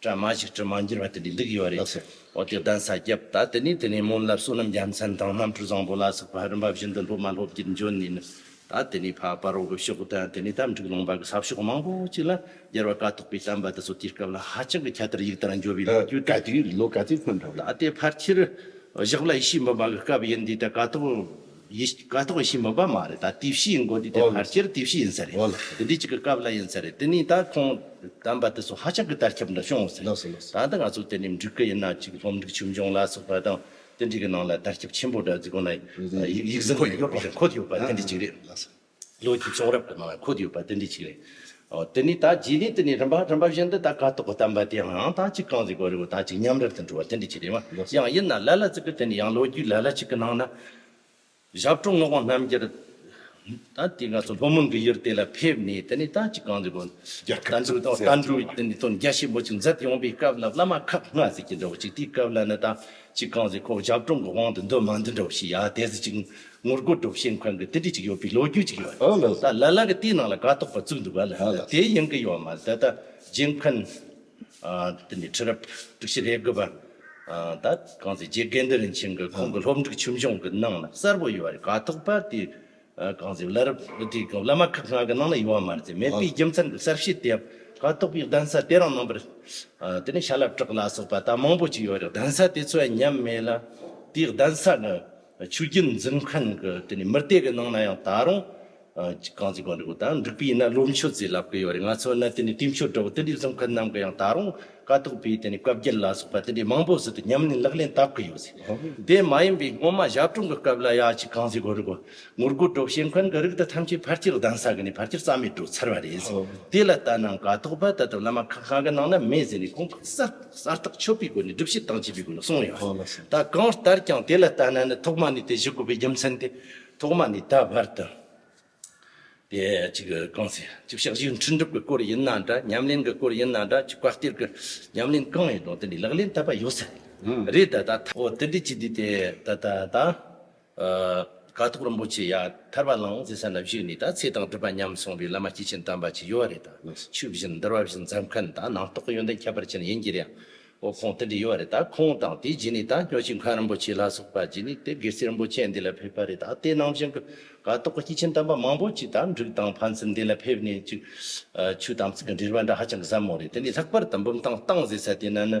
གྲྭ་མ་ཞིག་དྲི་མ་འགྱུར་བ་དེ་འདྲའི་འདུག་ཡོད་རེད་ཟེར། འོ་དེ་གདན་ས་བརྒྱབ་ད་དེ་ནས་དེ་ནས་སྨོན་ལམ་བསོད་ནམས་རྒྱལ་མཚན་དང་རྣམ་འཕྲུལ་བཟང་པོ་ལ་སོགས་པ་རིམ་པ་བཞིན་དུ་སློབ་མ་སློབ་དགེར་འབྱོར་ནས་ནི། ད་དེ་ནས་འཕགས་པ་རོལ་པའི་ཕྱོགས་དང་དེ་ནས་གཏམ་འཁྲུགས་ལུང་པ་གི་ཟབ་ཕྱོགས་མང་པོ་ཅིག་ལ་རྒྱལ་བ་དཀའ་ཐུབ་པའི་གཏམ་པ་འདི་ཚོ་དེའི་སྐབས་ལ་ཧ་ཅང་གི་ཁྱད་དར་ཡིག་དར་འགྱུར་བའི་ལོ་རྒྱུས་གྲགས་ཀྱི་ཡོད་རེད་ལོ་ག་ཚོད་ཐོན་གྲབས་ལ། ད་ལྟའི་བར་ཁྱེད་བཞག་ལ་ཡེ་ཤེས་འབུམ་པ་གི་སྐབས་ཡིན་དུས་ད་དཀའ་ཐུབ། ཡི་ཤི་ཀ་ཏོག་ཡི་ཤི་མི་པ་མ་རེད་ད་དུས་བཤིས་ཡིན་གོ་དུས་དེ་ཕར་སྐྱེར་དུས་བཤིས་ཡིན་ས་རེད་དེ་དུས་གཅིག་གི་སྐབས་ལ་ཡིན་ས་རེད་དེ་ནས་ད་ཁོང་དམ་པ་དེ་སོགས་ཧ་ཅང་གི་དར་ཁྱབ་འདི་བྱུང་སོང་ད་ད་ང་ཚོ་དེ་ནས་འགྲིག་གི་ཡིན་ན་གཅིག་སློབ་འབྲིང་ཆུང་འབྱུང་ལ་སོགས་པ་དང་དེ་འདྲའི་གི་ནང་ལ་དར་ཁྱབ་ཆེན་པོ་འདྲ་རྫི་གོང་ན་ཡིག་གཟུགས་ཡོད་པ་རེད་འཁོད་ཡོད་པ་དེ་འདྲའི་གཅིག་རེད། ལོ་རྒྱུས་གསུང་རབ་ཀྱི་ནང་ལ་འཁོད་ཡོད་པ་དེ་འདྲའི་ཞིག་རེད། དེ་ནས་ད་རྗེས་ནས་དེ་ནས་རིམ་པ་རིམ་པ་བཞིན་དུ་ད་ག་ཏོག་གི་གཏམ་པ་དེའང་ད་གཅིག་གང་ཟིག་གོ་རེ་བོ་ད་གཅིག་མཉམ་རེར་དུ་འགྲོ་བ་དེ་འདྲའི་ཞིག་རེད་མ་ཡང་ཡིན་ན་ལ་ལ་ཙི་ཀི་དེ་ནས་ཡང་ལོ་རྒྱུས་ལ་ལ་ཞིག་གི་ནང་ན། ཞབས་དྲུང་ངག་དབང་རྣམ་རྒྱལ། ད་དེ་ང་ཚོ་ལྷོ་མོན་གྱི་ཡུལ་དེ་ལ་ཕེབས་ནས་དེ་ནས་ད་གཅིག་གང་ཟིག་གོ། དར་འགྲོས་དང་དར་འགྲོས་དེ་ནས་དོན་རྒྱ་ཆེན་པོ་ཅིག་མཛད་ཡོང་པའི་སྐབས་ལ་བླ་མ་ཁག་ལྔ་ཟིག་གིས་འདྲ་བོ་ཅིག་དེའི་སྐབས་ལ་ནི་ད་གཅིག་གང་ཟིག་ཁོ་བོ་ཞབས་དྲུང་གི་དབང་དུ་འདུ་མ་འདུ་འདྲ་བོ་ཞིག་ཡ་དེ་ཟིག་ཅིག་ངོ་རྒོལ་སྒྲོག་བཤད་མཁན་གྱི་ལྟེ་གྲས་ཅིག་ཡོད་པའི་ལོ་རྒྱུས་ཅིག་ཡོད། ད་ལ་ལ་གི་དེའི་ནང་ལ་དགའ་དོག་པ་བཙུགས་འདུག་ག་ལ་དེ་ཡིན་གྱི་ཡོད་མ་རེད་ད་ལྟ་རྗེ་མཁན། དེ་ནས་ཁྲི་རབས་དྲུག་བཞི་རེ་དགུ་པ། ད་གང་ཟེ་རྗེ་དགེ་འདུན་རིན་ཆེན་གྱི་ཁོང་གི་སློབ་འབྲིག་ཆུ་འབྱུང་གི་ནང་ལ་གསར་བུ་ཡོད་པ་རེད་དགའ་དོག་པ་དེ་གང་ཟེ་བླ་རབས་དེ་བླ་མ་ཁག་ང་གི་ནང་ལ་ཡོད་མ་རེད་མེད་པའི་རྒྱུ་མཚན་གྱི་གསར་བཤད་དེ་ཡང་དགའ་དོག་པའི་གདན་ས་དེ་རང་ནང་པར། དེ་ནས་ཤ་ལ་བྲག་ལ་སོགས་པ་ད་མང་པོ་ཅིག་ཡོད་རེད་གདན་ས་དེ་ཚོ་ཡང་ཉམས་མེད་ལ་དེའི་གདན་ས་གི་ཆོས་རྒྱུད་འཛིན་མཁན་གྱི་དེ་ནས་མི་དེ་གི་ནང་ན་ཡང་ད་རུང་གངས་ཅན་གངས་རི་བོ་ད་འགྲིག་པའི་ཡིན་ན་བློ་མཆོད་རྩིས་ལབ་གི་ཡོད་རེད་ང་ཚོ་ནི་དེ་ནས་དུས་མཆོད་དྲ་བོ་དེ་འདྲའི་འཛིན་མཁན་རྣམས་གི་ཡང་ད་རུང་དཀའ་ཐུབ་པའི་དེ་ནས་བཀའ་བརྒྱད་ལ་སོགས་པ་དེ་འདྲའི་མང་པོ་ཟིན་ཏེ་ཉམས་ལེན་ལག་ལེན་བསྟར་གི་ཡོད་རེད་དེ་མ་ཡིན་པའི་སྔོན་མ་ཞབས་དྲུང་གི་སྐབས་ལ་ཡ་གཅིག་གངས་ཅན་གངས་རི་བོ་ངོར་སྒོར་སྒྲོག་བྱེད་མཁན་གྱི་རིགས་དེ་ཐམས་ཅད་ཕར་ཆེར་གདན་ས་གི་ནས་ཕར་ཆེར་རྩ་མེད་འགྲོ་ཚར་བ་རེད་དེ་ལ་ལྟ་ན་དཀའ་ཐུབ་པ་ད་དུང་བླ་མ་ཁག་ཁག་གི་ནང་ན་མེད་ཟེར་ནས་ཁོང་གིས་གསལ། གསལ་རྟགས་ཆོད་པའི་སྒོ་ནས་སྒྲུབ་བྱེད་དང་བཅས་པའི་སྒོ་ནས་གསུངས་ཡོད། ད་གང་ལྟར་ཀྱང་དེ་ལ་ལྟ་ན་ནི་ཐོག་མ་ནས་དེ་བཞི་བཀོད་པའི་རྒྱུ་མཚན་དེ་ཐོག་མ་ནས་ད་བར་དུ་དེ་གཅིག་གང་ཟེར་གཅིག་ཕྱག་བཞིའི་འཕྲིན་སྒྲུབ་ཀྱི་སྐོར་ཡིན་ན་འདྲ་ཉམས་ལེན་གྱི་སྐོར་ཡིན་ན་འདྲ་གཅིག་བཀའ་གཏེར་གྱི་ཉམས་ལེན་གང་ཡིན་རུང་དེ་འདྲའི་ལག་ལེན་བསྟར་བ་ཡོད་ས་རེད་ད་ད། འོ་དེ་འདྲའི་སྤྱི་བདེ་དེ་ད་ད་ད། དཀའ་ཐུབ་རིན་པོ་ཆེ་ཡ། ཐར་པ་ལའང་ཟེ་ས་ན་བཞུགས་ནས་ད་ཚེ་དང་སྒྲུབ་པ་མཉམ་སོང་བའི་བླ་མ་སྐྱེས་ཆེན་དམ་པ་ཅིག་ཡོད་བ་རེད་ད། ཕྱུག་བཞིན་འདར་བ་བཞིན་འཛམ་མཁན་ད་ནང་རྟོག་གི་ཡོན་ཏན་ཁྱད་པར་ཅན་ཡིན་གྱི་རེད་ཨང། འོ་ཁོང་དེ་འདྲས་ཡོད་བ་རེད་ད་ཁོང་དང་དེའི་རྗེས་ནས་ད་སྨྱོ་ཅི་མཁན་རིན་པོ་ཆེ་ལ་སོགས་པ་རྗེས་ནས་དེ་སྒེར་སེར་རིན་པོ་ཆེ་འདི་ལ་ཕེབས་པ་རེད་ད་དེ་ནང་བཞིན་གྱི་དཀའ་རྟོག་གི་སྐྱེས་ཆེན་དམ་པ་མང་པོ་ཅིག་ད་འབྲུག་དང་ཕན་ཚུན་འདི་ལ་ཕེབས་ནས་ཅིག། ཆོས་དམ་ཚིག་གི་འབྲེལ་བ་འདྲ་ཧ་ཅང་གི་ཟབ་མོ་རེད་དེ་ནས་ལྷག་པར་དུ་འབུམ་ཐང་བཏང་ཟེ་ས་དེ་ན་ནི།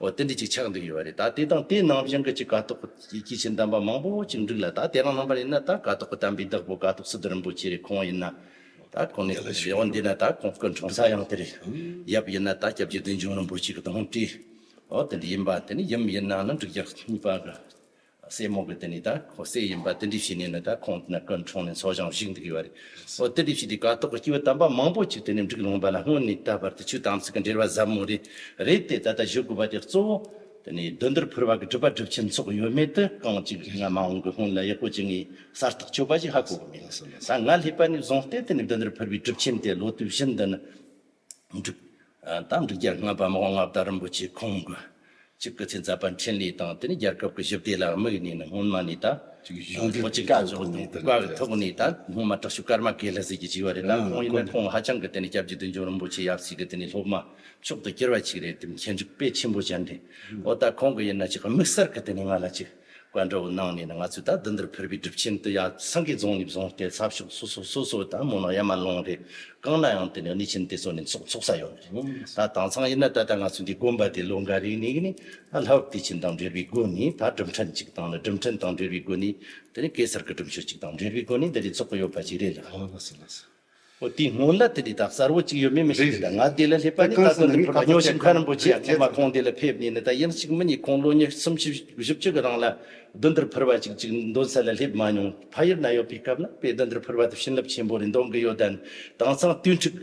འོ་དེ་འདྲ་ཅིག་ཆགས་འདུག་ཡོད་པ་རེད་ད་དེ་དང་དེའི་ནང་བཞིན་གྱི་ཅིག་དགའ་ཐོག་གི་ཆེ་འདམ་པ་མང་པོ་ཅིག་འདུག་ལ་ད་དེ་རང་རྣམ་པར་ཡིན་ན་ད་དགའ་ཐོག་གི་དམ་པའི་བདག་པོ་དགའ་ཐོག་སི་ཏུ་རིན་པོ་ཆེ་རེད་ཁོང་ཡིན་ན་ད་ཁོང་ནས་དེ་རེད་འོ་འདི་ན་ད་ཁོང་སྐུ་འཁྲུངས་ས་ཡང་དེ་རེད་ཡབ་ཡིན་ན་ད་སྐྱབས་རྗེ་བདུད་འཇོམས་རིན་པོ་ཆེ་གི་དོང་སྤྲུགས་འོ་དེ་འདྲ་ཡིན་པ་དེ་ནི་ཡུམ་ཡིན་ན་ནི་འབྲུག་རྒྱལ་གཉིས་པ་གི་སྲས་མོ་གི་དེ་ནི་ད་ཁོ་སྲས་ཡིན་པ་ཏི་འདྲི་བྱས་ནས་ནི་ད་ཁོང་དེ་ན་སྐུ་འཁྲུངས་ནས་འཚོ་ཞིང་བཞུགས་འདུག་གི་བ་རེད། ཨོ་ཏི་འདྲི་བྱས་དེ་ཀ་ཏོག་གི་སྐྱེས་བུ་དམ་པ་མང་པོ་ཅིག་དེ་ནས་འབྲུག་ལུང་པ་ན་སྔོན་ནས་ད་བར་དུ་ཆོས་དམ་ཚིག་གི་འབྲེལ་བ་ཟབ་མོ་རེ་རེད་དེ་ད་ལྟ་བཞུགས་དགོས་པ་དེ་གཙོ་བོ་དེ་ནི་བདུད་འདུལ་ཕུར་བ་གི་སྒྲུབ་པ་སྒྲུབ་ཆེན་ཚོགས་ཡོད་མེད་དུ་རྐང་གཅིག་སྔ་མ་འོང་གི་སྔོན་ལ་ཡག་པོ་བྱེད་ངེས་གསལ་ཐག་ཆོད་པ་ཞིག་ཧ་གོ་གི་མེད་ད་ང་སླེབས་པ་ནས་བཟུང་སྟེ་དེ་ནི་བདུད་འདུལ་ཕུར་བའི་སྒྲུབ་ཆེན་དེ་ལོ་དུས་བཞི་འདི་ནི། འགྲིག། དང་འགྲིག་རྒྱ་དངོས་པདྨ་དབང་རྒྱ་རིན་པོ་ཆེ་ཁོང་གི་གཅིག་གི་ཚེ་འཛད་པ་འཕྲིན་ལས་དང་དེ་ནས་རྒྱལ་ཁབ་ཀྱི་ཞི་བདེ་ལ་དམིགས་ནས་ནི་སྔོན་མ་ནས་ད། གཞུང་འབྲེལ་གྱི་བཀའ་ཤག་དང་ཚོགས་པ་གི་ཐོག་ནས་ད་སྔོན་མ་དྲག་ཤུགས་སྐར་མ་གས་ལྷ་སྲས་ཀྱི་བྱིས་པ་རེད་ད་ཁོང་ཡིན་ན་ཁོང་ཧ་ཅང་གི་དེ་ནི་སྐྱབས་རྗེ་བདུད་འཇོམས་རིན་པོ་ཆེ་ཡབ་སྲས་ཀྱི་དེ་ནི་སློབ་མ་མཆོག་ཏུ་གྱུར་པ་ཅིག་རེད་དེ་མཁས་འཇུག་དཔེ་ཆེན་པོ་ཅན་རེད་འོ་ད་ཁོང་གི་ཡིན་ན་ཅིག་དམིགས་བསལ་གི་དེ་ནི་ང་ལ་ཅིག། བཀའ་འགྲོ་བོ་གནང་ནས་ནི་ང་ཚོས་ད་འདི་འདིར་ཕེར་བའི་སྒྲུབ་ཆེན་འདི་ཡང་སངས་རྒྱས་རྫོང་ནས་བཟུང་སྟེ་ཚབ་ཤོག་སོ་སོ་སོ་སོའི་ད་མོ་ནང་ཡ་མ་ལུང་རེ་བཀང་ན་ཡང་དེ་ནས་གནས་ཆེན་དེ་ཚོ་ནས་འཚོགས་འཚོགས་ས་ཡོད་ནི་རེད། ད་དྭངས་གཙང་ཡིན་ན་ད་ལྟ་ང་ཚོ་འདི་དགོན་པ་དེ་ལོ་འགའ་རེའི་ནས་གི་ནི་ད་ལྷ་བབས་བདེ་ཆེན་དང་འབྲེལ་བའི་སྒོ་ནས་ད་སྒྲུབ་ཕྲན་ཅིག་བཏང་ནས་སྒྲུབ་ཕྲན་དང་འབྲེལ་བའི་སྒོ་ནས་དེ་ནི་གེ་སར་གི་སྒྲུབ་མཆོད་ཅིག་དང་འབྲེལ་བའི་སྒོ་ནས་འདི་འདྲའི་འཚོགས་ཀི་ཡོད་པ་ཅིག་རེད་ལགས། འོ་དེའི་སྔོན་ལ་དེ་དེ་དང་གསར་བུ་གཅིག་ཡོད་མེད་མི་ཤེས་རེད་ད་ང་དེ་ལ་སླེབས་པ་ནི་ད་དུང་དེ་ཕོར་པ་ཉོ་བཞིན་ཁ་རིན་པོ་ཆེ་ཡང་ཁོང་མ་ཁོང་དེ་ལ་ཕེབས་ནས་ནི་ད་ཡིན་གཅིག་མི་གཉིས་ཁོང་ལོ་ཉི་གསུམ་བཞི་བཞི་བཅུ་གི་རིང་ལ་གདོན་འདིར་ཕུར་བ་གཅིག་གཅིག་འདོན་ས་ལ་སླེབས་མ་མྱོང་ཕ་ཡུལ་ན་ཡོད་པའི་སྐབས་ན་དཔེ་གདོན་འདིར་ཕུར་བ་དེ་བྱིན་རླབས་ཆེན་པོ་རེ་འདོན་གི་ཡོད་དན་དྭངས་གཙང་དུས་འཁྲུག་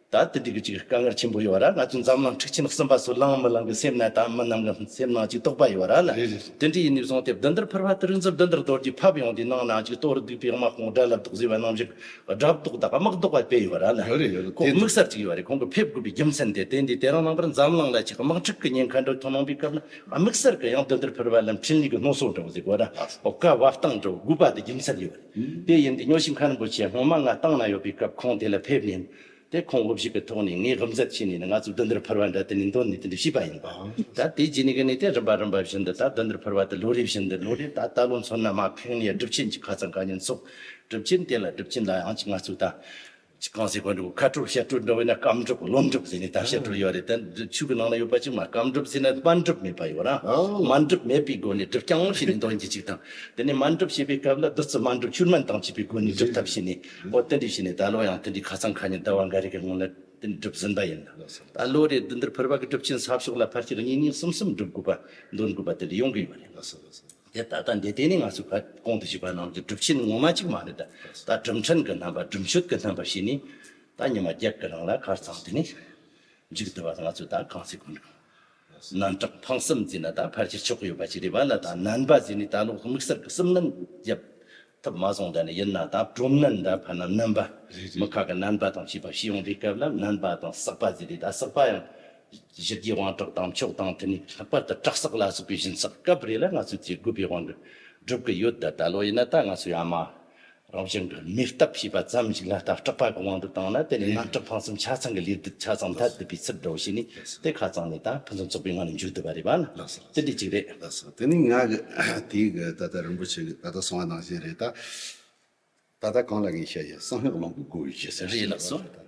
ད་དེ་འདྲི་གི་གཅིག་དཀའ་ངལ་ཆེན་པོ་ཡོད་ར་ང་ཚོའི་འཛམ་གླིང་འཁྲུག་ཆེན་གསུམ་པ་སུ་ལང་མི་ལང་གི་སེམས་ན་ད་མི་རྣམས་ཀྱི་སེམས་ནང་གཅིག་རྟོག་པ་ཡོད་ར་ལ་དེ་འདྲི་ཡིན་ནས་བཟུང་སྟེ་གདོན་འདིར་ཕུར་བ་དེ་རིགས་འཛུར་གདོན་འདིར་གཏོར་རྒྱུ་ཕབ་ཡོང་དུས་ནང་ན་གཅིག་གཏོར་བསྡུས་པའི་དམག་དཔུང་དགྲ་ལ་དོགས་ཟེར་བ་རྣམས་ཞིག་སྒྲ་བཟློག་དང་དམག་བཟློག་པ་སྤེལ་ཡོད་པ་ར་ནི། ཡོད་རེད་ཡོད་རེད་ཁོང་དམིགས་བསལ་གཅིག་ཡོད་རེད་ཁོང་གི་ཕེབས་དགོས་པའི་རྒྱུ་མཚན་དེ་དེ་འདི་དེ་རང་ནང་པར་འཛམ་གླིང་ལ་ཆེ་གི་དམག་འཁྲུག་གི་ཉེན་ཁ་འགྲོ་ཐུང་གནང་པའི་སྐབས་ན་དམིགས་བསལ་གི་ཡང་དོན་དེར་ཕེར་བ་ལམ་འཕྲིན་ལས་གི་སྣོ་སོགས་འགྲོ་གི་འདུག་གོ་ར་བོ་ཀ་བ་སྟངས་འགྲོ་དགོས་པ་དེ་རྒྱུ་མཚན་ཡོད་རེད་དེ་ཡིན་དུས་ཉོ་ཤིང་ཁ་རིན་པོ་ཆེ་སྔོན་མ་ང་ཏང་ནང་ཡོད་པའི་སྐབས་ཁོང་དེ་ལ་ཕེབས་ཉིན་དེ་ཁོང་དབུ་བཞུགས་པའི་ཐོག་ནས་ངས་ཧམ་ཟ་བྱས་ནས་ནི་ང་ཚོ་སྡོད་འདིར་ཕུར་བ་འདྲ་དེ་ནས་འདོན་ནས་དེ་འདྲ་བྱས་པ་ཡིན། ད་དེ་རྗེས་ནས་གི་ནས་དེ་རིམ་པ་རིམ་པ་བཞིན་དུ་ད་སྡོད་འདིར་ཕུར་བ་དེ་ལོ་རེ་བཞིན་དུ་ལོ་རེར་ད་ལྟ་ལོ་མཚོན་ན་མ་ཕེང་ནས་སྒྲུབ་ཆེན་གྱི་ཁ་ཚང་ག་ཉིན་འཚོགས། སྒྲུབ་ཆེན་དེ་ལ་སྒྲུབ་ཆེན་ལ་ཡང་ཅིག་ང་ཚོས་ད། ཅིག་གང་ཟེར་དགོས་འདུག་མཁའ་སྤྲོ་བཤད་སྤྲོ་འདྲ་བས་ན་སྐམ་སྒྲུབ་སློབ་འགྲུབ་ཟེར་ནས་ད་བཤད་སྤྲོ་ཡོད་རེད་དེ་འདི་ཆོས་གི་ནང་ན་ཡོད་པ་ཅིག་མ་སྐམ་སྒྲུབ་ཟེར་ན་སྨན་སྒྲུབ་མེད་པ་ཡོད་ན་སྨན་སྒྲུབ་མེད་པའི་སྒོ་ནས་སྒྲུབ་རྐྱང་བྱས་ནས་འདོན་རྒྱུ་ཅིག་དང། དེ་ནས་སྨན་སྒྲུབ་བྱེད་པའི་སྐབས་ལ་བདུད་རྩི་སྨན་སྒྲུབ་ཆུར་སྨན་དང་བཅས་པའི་སྒོ་ནས་སྒྲུབ་ཐབས་བྱས་ནས། ཨོ་རྟེན་འབྲེལ་བྱས་ནས་ད་ལོ་ཡང་རྟེན་འབྲེལ་ཁ་ཚང་ཁ་ཉིན་ཟླ་བ་འགའ་རེ་གི་སྔོན་ལ་རྟེན་འབྲེལ་སྒྲུབ་ཟིན་པ་ཡིན། ད་ལོ་རེ་འདི་འདིར་ཕེར་བ་གི་སྒྲུབ་ཆེན་ཚབ་ཕྱོགས་ལ་ཕར་ཆེར་གཉིས་གཉིས་གསུམ་གསུམ་སྒྲུབ་དགོས་པ་འདོན་དགོས་པ་དེ་འདྲ་ཡོང་གི་ཡོད་རེད། དེ་ད་ལྟ་འདི་ལྟས་ནས་ང་ཚོས་ཕར་གོང་དུ་ཞུས་པ་རྣམས་ཀྱི་སྒྲུབ་ཆེན་ངོ་མ་གཅིག་མ་རེད་ད། ད་སྒྲུབ་འཕྲིན་གི་རྣམ་པ་སྒྲུབ་མཆོད་གི་རྣམ་པ་བྱས་ནས་ད་ཉི་མ་བརྒྱད་གི་རིང་ལ་ཁར་ཚང་དུ་ནས་འཇུག་བསྡུ་བ་ང་ཚོས་ད་གང་ཚེ་གོ་འདུག། རྣམ་དག་ཕངས་སེམས་འཛིན་ན་ད་ཕར་ཆེར་ཆོག་གི་ཡོད་པ་ཅི་རེད་བ་ལ་ད་ནན་པ་ཟིན་ནས་ད་ལོག་དམིགས་བསལ་གི་སེམས་ནན་རྒྱབ་ཐུབ་མ་སོང་ད་ནི་ཡིན་ན་ད་གྲོམ་ནན་ད་ཕར་ནམ་ནན་པ་མི་ཁ་གི་ནན་པ་དང་བྱིས་པ་ཤི་ཡོང་བའི་སྐབས་ལ་ནན་པ་དང་བསགས་པ་ཟེར་རེད་ད་བསགས་པ་ཡང་གཞི་རྒྱའི་དབང་དྲག་དང་མཆོག་དང་དེ་ནས་ལྷག་པར་དུ་བྲག་བསགས་ལ་སོགས་པའི་བཞིན་བསགས་སྐབས་རེ་ལ་ང་ཚོས་ཚེ་དགོས་པའི་དབང་གི་སྒྲུབ་གི་ཡོད་ད་ད་ལོ་ཡིན་ན་ད་ང་ཚོས་ཡང་མ་རང་བཞིན་གྱི་མིག་ལྟ་ཞེས་པ་ཙམ་ཞིག་ལ་ལྟ་སྐྲག་པ་གི་དབང་དུ་བཏང་ན་དེ་ནི་སྣ་སྐྲུགས་ཕངས་སེམས་ཆ་ཚང་གི་ལས་སྡུག་ཆ་ཚང་མཐར་བསྡུས་པའི་ཕྱིར་རོ་ཞེས་ནི་དེ་ཁ་ཚང་ནས་དང་ཕུན་སུམ་ཚོགས་པའི་ངང་ནས་འཇུག་བསྡུ་བ་རེད་བ་ན་དེ་འདི་གཅིག་རེད། དེ་ནི་ང་གི་དེའི་གི་ད་ལྟ་རིན་པོ་ཆེ་གི་ད་ལྟ་སོང་བ་ནང་བཞིན་རེད་ད། ད་ལྟ་གང་ལ་ངས་བཤད་ཡོད་སང་ཧེ་གླིང་གི་སྒོ་བཞི་ཟེར་བཞིན་ཡོད་བ་རེད་ད།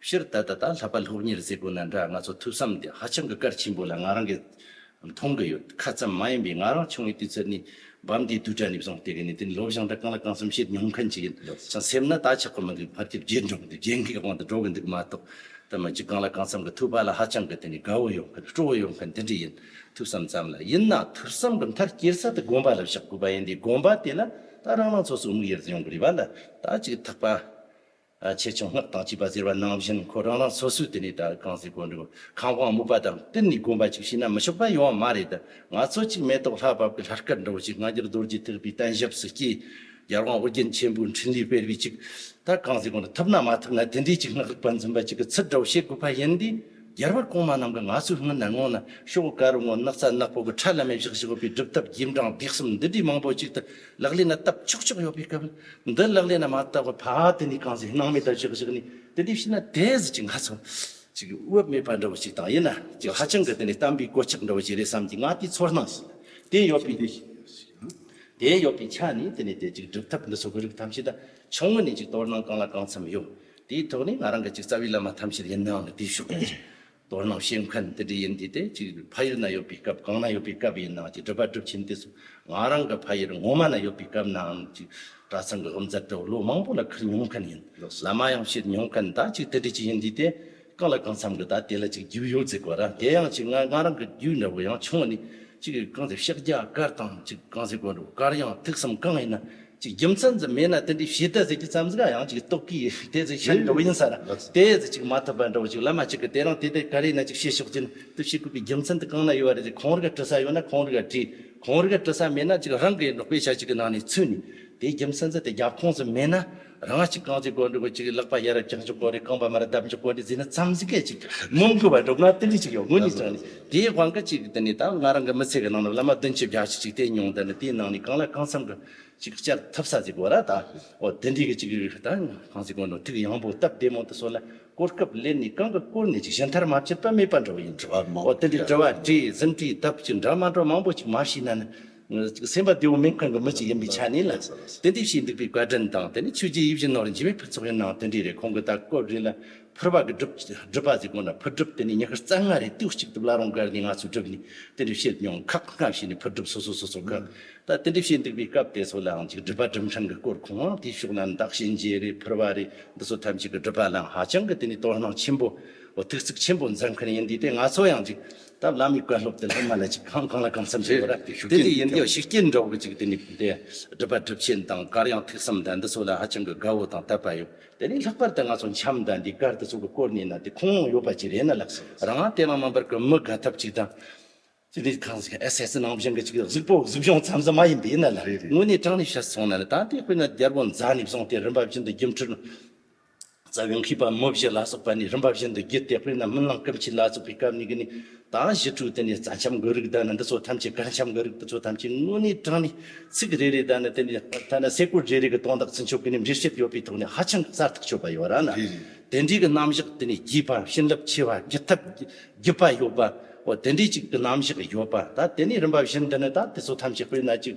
ཕྱིར་ད་ལྟ་ད་ལྷག་པ་སློབ་གཉེར་བཟོས་པོ་ན་འདྲ་ང་ཚོ་ཐུགས་བསམ་དེ་ཧ་ཅང་གི་གལ་ཆེན་པོ་ལ་ང་རང་གིས་མཐོང་གི་ཡོད་ཁ་ཙམ་མ་ཡིན་པའི་ང་རང་ཆུང་བའི་དུས་ཚོད་ནས་བམ་དེའི་དུས་དགྲ་ནས་བཟུང་བལྟས་གི་ནས་དེ་ནས་ལོ་བཞང་དགྲ་གང་ལ་གང་སེམས་ཤེས་མྱོང་མཁན་ཅིག་ཡིན་ཅིང་སེམས་ན་ད་ཆགས་པ་མི་འདུག་ཕར་རྒྱབ་རྗེས་འབྲང་དུ་རྒྱལ་མཁས་དབང་དུ་འགྲོ་གི་འདུག་མ་གཏོགས་ད་མི་འཇུག་གང་ལ་གང་བསམ་གི་ཐུག་པ་ལ་ཧ་ཅང་གི་དེ་ནས་དགའ་བོ་ཡོང་མཁན་སྤྲོ་བོ་ཡོང་མཁན་དེ་འདྲ་ཡིན་ཐུགས་བསམ་ཙམ་ལ་ཡིན་ན་ཐུགས་བསམ་གི་མཐར་སྐྱེལ་ས་དེ་དགོན་པ་ལ་བཞག་དགོས་པ་ཡིན་དེ་དགོན་པ་དེ་ན་ད་རང་རང་ཚོ་སོ་དམིགས་ཡེར་དུ་ཡོང་གི་རེད་པ་ལ་ད་ཅིག་ཐག་པ། ཆེ་ཆུང་སྔགས་དང་བཅས་པ་ཟེར་བ་ནང་བཞིན་ཁོ་རང་རང་སོ་སོས་དེ་ནས་ད་གང་ཟེར་གོ་འགྲོ་ཁམས་དབང་སྨུག་པ་དང་གཏན་ནས་དགོན་པ་གཅིག་བྱས་ན་མི་ཆོག་པ་ཡོང་བ་མ་རེད་དུ་ང་ཚོ་གཅིག་མེ་ཏོག་ལྷ་བབས་ཀྱི་ལྷར་སྐལ་འགྲོ་ཅིག་སྔ་འགྱུར་རྡོ་རྗེ་ཐེག་པའི་བསྟན་ཞབས་སུ་སྐྱེས། ཡར་དབང་ཨོ་རྒྱན་ཆེན་པོའི་འཕྲིན་ལས་སྤེལ་བས་ཅིག་ད་གང་ཟེར་གོ་འགྲོ་ཐུབ་ན་མ་ཐུབ་ན་དེ་འདྲའི་ཅིག་སྔགས་རིག་པ་འཛིན་པ་ཅིག་གི་ཚུལ་འགྲོ་བྱེད་དགོས་པ་ཡིན་དུས་རྒྱལ་བ་གོང་མ་རྣམས་ཀྱི་ང་ཚོའི་སྔུན་ན་སྔོན་ན་ཤོག་དཀར་བོ་ངོ་ནག་རྩ་ནག་པོ་གི་ཁྲ་ལམ་མེ་བཞག་བཞག་པའི་སྒྲུབ་ཐབས་རྗེས་འབྲང་བགེགས་གསུམ་འདི་འདྲའི་མང་པོ་ཅིག་ཏུ་ལག་ལེན་ལ་བཏབ་ཆོག་ཆོག་ཡོད་པའི་སྐབས་འདི་ལག་ལེན་ལ་མ་བཏབ་པར་ཕ་དེ་ནས་གང་ཟིག་སྣང་མེད་ལྟར་བཞག་བཞག་ནས་དེ་འདྲའི་བྱས་ན་དེ་ཟིག་ཅིག་ང་ཚོ་ཅིག་དབུབ་མེད་པ་འདྲ་བོ་ཞིག་དང་ཡིན་ན་ཅིག་ཧ་ཅང་གི་དེ་ནས་བསྟན་པའི་གོ་ཆག་འདྲ་བོ་ཞིག་རེད་བསམ་གྱི་ང་དེའི་ཚོར་སྣང་ཞིག་དེ་ཡོད་པའི་དུས་ཤིག་དེ་ཡོད་པའི་ཆ་ནས་དེ་ནས་དེ་ཅིག་སྒྲུབ་ཐབས་འདི་ཚོ་གི་རིགས་ཐམས་ཅད་ད་ཆུང་ངུ་ནས་ཅིག་དོར་སྣང་གང་ལ་གང་འཚམ་ཡོད་དེའི་ཐོག་ནས་ང་རང་གི་ཅིག་རྩ་བའི་བླ་མ་ཐམས་ཅད་ཡིན་ནའང་དེའི་ཕྱོགས་ཀྱི་དོན་རྣམས་ཤེས་མཁན་དེ་འདྲ་ཡིན་དུས་དེ་གཅིག་ཕ་ཡུལ་ན་ཡོད་པའི་སྐབས་གང་ན་ཡོད་པའི་སྐབས་ཡིན་ནའང་ཅིག་སྒྲུབ་པ་སྒྲུབ་ཆེན་དུས་སུ་ང་རང་གི་ཕ་ཡུལ་ངོ་མ་ན་ཡོད་པའི་སྐབས་ནའང་ཅིག་གྲྭ་ཚང་གི་སློབ་མཛད་དུ་ལོ་མང་པོ་ལ་ཁུར་མྱོང་མཁན་ཡིན། བླ་མ་ཡང་བྱེད་མྱོང་མཁན་ད་ཅིག་དེ་འདྲ་ཅིག་ཡིན་དུས་དེ་གང་ལ་གང་འཚམ་གྱི་ད་དེ་ལ་ཅིག་རྒྱུས་ཡོད་ཚེ་གོ་རང་དེ་ཡང་ཅིག་ང་ང་རང་གི་རྒྱུས་འདྲ་བོ་ཡང་ཆུང་བ་ནས་ཅིག་གང་ཚེ་ཤག་རྒྱ་དཀར་དང་ཅིག་གང་ཚེ་དགོན་འགྲོ་དཀར་ཡང་ཐུགས་བསམ་གང་ཡིན་ན། ཅིག་རྒྱུ་མཚན་ཙམ་མེད་ན་དེ་འདྲའི་བྱེད་གཏད་ཟེར་གྱི་ཙམ་ཟིག་ཡང་ཅིག་རྟོག་གི་དེ་ཟིག་ཤར་འགྲོ་བ་ཡིན་ས་ར་དེ་ཟིག་ཅིག་མ་ཐུབ་པ་འགྲོ་བ་ཅིག་བླ་མ་གཅིག་གི་དེ་རང་དེ་དེ་ག་རེ་ན་ཅིག་བྱེད་ཕྱོགས་ཅན་དུ་བྱེད་དགོས་པའི་རྒྱུ་མཚན་དུ་གང་ན་ཡོད་པ་རེད་ཅིག་གང་རེ་ག་དྲི་ས་ཡོད་ན་གང་རེ་ག་དྲི་གང་རེ་ག་དྲི་ས་མེད་ན་ཅིག་རང་གི་འབྲོག་པའི་ཆ་ཅིག་གི་ནང་ནས་ཚུད་ནས་དེ་རྒྱུ་མཚན་ཙམ་དེ་རྒྱབ་ཁོངས་སུ་མེད་ན་རང་ཅིག་གང་ཅིག་གོ་འགྲོ་གི་ཅིག་ལག་པ་ཡར་རེ་བཀྱག་འཇུག་གོ་རེ་རྐང་པ་མར་རེ་བརྡབ་འཇུག་གོ་འདི་ཟིག་ན་ཙམ་ཟིག་གི་ཅིག་མི་འགུལ་བ་འགྲོ་གི་ན་དེ་འདྲའི་ཅིག་ཡོད་དགོས་ནི་ཙམ་ནི་དེའི་དབང་གིས་གཅིག་འདི་ནས་ད་ང་རང་གི་མི་ཚེ་གི་ནང་ནས་བླ་མ་བདུན་གྱི་བརྒྱ་བྱིན་གཅིག་བསྟེན་མྱོང་འདི་ནི་དེའི་ནང་ནས་གང་ལ་གང་འཚམ་གྱི་གཅིག་བསྐྱར་ཐུབ་ས་ཟིག་གོ་ར་ད་འོ་དེ་འདྲའི་གི་གཅིག་རིགས་ཤིག་ད་གང་ཟིག་གོ་འགྲོ་ཐུགས་ཡངས་པོ་སྟབས་བདེ་མོ་དུ་སོང་ན་གོ་སྐབས་ལེན་ནས་གང་གི་བསྐོར་ནས་ཅིག་ཞི་མཐར་མ་ཕྱིར་པ་མེད་པར་འགྲོ་བ་ཡིན་ནོ་འོ་དེ་འདྲའི་དྲི་བ་དྲིས་གཟིམས་དྲིས་སྟབས་ཅིག་འདྲ་མ་འདྲ་མང་པོ་ཅིག་མ་ཤེས་ན་ནི་ཅིག་སེམས་པ་བདེ་བོ་མིན་གང་གི་མི་ཅིག་ཡིན་པའི་ཆ་ནས་ལ་དེ་འདྲའི་བྱས་འདུག་པའི་བཀའ་དྲིན་དང་དེ་ནས་ཆོས་རྗེ་ཡིད་བཞིན་ནོར་འཇིགས་པའི་ཕུན་ཚོགས་ཡིན་ནའང་དེ་འདྲའི་རེད་ཁོང་གི་ད་སྐོར་རེ་ལ་ཕུར་བ་གི་སྒྲུབ་སྒྲུབ་པ་ཟེར་དགོས་ན་ཕུར་སྒྲུབ་དེ་ནི་ཉི་ཤུ་རྩ་ལྔ་རེ་ལྟོས་གཅིག་ཏུ་བླ་རུང་སྒར་གྱི་ང་ཚོའི་སྒྲུབ་ནི་དེ་འདྲས་བཤད་མྱོང་ཁག་སྔ་ཕྱི་ནས་ཕུར་སྒྲུབ་སོ་སོ་སོ་སོ་ཁག་ད་དེ་འདྲས་བཤད་འདུག་པའི་སྐབས་དེ་ཚོ་ལའང་ཅིག་སྒྲུབ་པ་སྒྲུབ་འཕྲང་གི་སྐོར་གོང་འོག་དེའི་ཕྱོགས་ལ་འདག་གཤིན་རྗེ་རེད་ཕུར་བ་རེད་འདི་ཚོ་ཐམས་ཅད་ཀྱི་སྒྲུབ་པ་ལའང་ཧ་ཅང་གི་དེ་ནི་དོ་སྣང་ཆེན་པོ་ཐུགས་གཙིགས་ཆེན་པོ་མཛད་མཁན་ཡིན་དུས་དེ་ང་ཚོ་ཡང་ཅིག་ད་བླ་མའི་བཀའ་སློབ་དེ་སློབ་མ་ལ་ཅིག་གང་གང་ལ་གང་འཚམས་ཤིག་ཡོད་ར་དེ་འདྲས་ཡིན་དུས་ཤུགས་རྐྱེན་འདྲ་བོ་ཅིག་དེ་ནི་དེ་སྒྲུབ་པ་སྒྲུབ་ཆེན་དང་གར་དབྱངས་ཐུགས་བསམ་དང་འདི་ཚོ་ལ་ཧ་ཅང་གི་དགའ་བོ་དང་དད་པ་ཡོད་དེ་ནས་ལྷག་པར་དུ་ང་ཚོ་འཆམ་དང་འདི་གར་དུ་ཚོགས་པའི་སྐོར་ནས་ན་དེ་ཁུངས་ལུང་ཡོད་པ་ཅིག་རེད་ན་ལགས་སོ། རང་དབང་དེ་ལ་མ་འབར་གི་མི་དགའ་ཐབས་ཅིག་དང། དེ་ནས་གང་ཟག་ཨེ་སེ་ནང་བཞིན་གྱི་ཅིག་གཟུགས་པོ་གཟུགས་གཞུང་ཙམ་ཙམ་མ་ཡིན་པས་ན་ལ་དངོས་གནས་དྲང་ནས་བཤད་སོང་ན་ལ་ད་ལྟའི་དཔེར་ན་རྒྱལ་པོ་མཛའ་ནས་བཟུང་སྟེ་རིམ་པ་བཞིན་དུ་རྒྱུ་འཕྲུལ་རྩ་བའི་མཁས་པ་མི་བཞི་ལ་སོགས་པ་ནས་རིམ་པ་བཞིན་དུ་བརྒྱུད་དེ་དཔེར་ན་སྨོན་ལམ་སྐུ་མཆེད་ལ་སོགས་པའི་སྐབས་ནས་གི་ནས་དང་བཞི་དྲུག་དེ་ནི་རྩ་འཆམ་དགོས་རིགས་དག་ནི་འདི་ཚོ་ཐམས་ཅད་གར་འཆམ་དགོས་རིགས་འདི་ཚོ་ཐམས་ཅད་དངོས་གནས་དྲང་ནས་ཚིག་རེ་རེ་དག་ནི་དེ་ནི་ཐ་ན་སེ་གོལ་རེ་རེ་གི་སྟོང་དག་ཚུན་ཆོད་གི་ནི་འདྲིར་བཤད་ཡོད་པའི་ཐོག་ནས་ཧ་ཅང་གསལ་ཐག་ཆོད་པ་ཡོད་ར་ན་དེ་འདྲའི་གི་རྣམ་གཞག་དེ་ནི་བརྒྱུད་པ་བྱིན་རླབས་ཆེ་བ་བརྒྱུད་ཐབས་བརྒྱུད་པ་ཡོད་པ་འོ་དེ་འདྲའི་ཅིག་གི་རྣམ་གཞག་ཡོད་པ་ད་དེ་ནས་རིམ་པ་བཞིན་དུ་ནི་ད་དེ་ཚོ་ཐམས་ཅད་དཔེར་ན་ཅིག།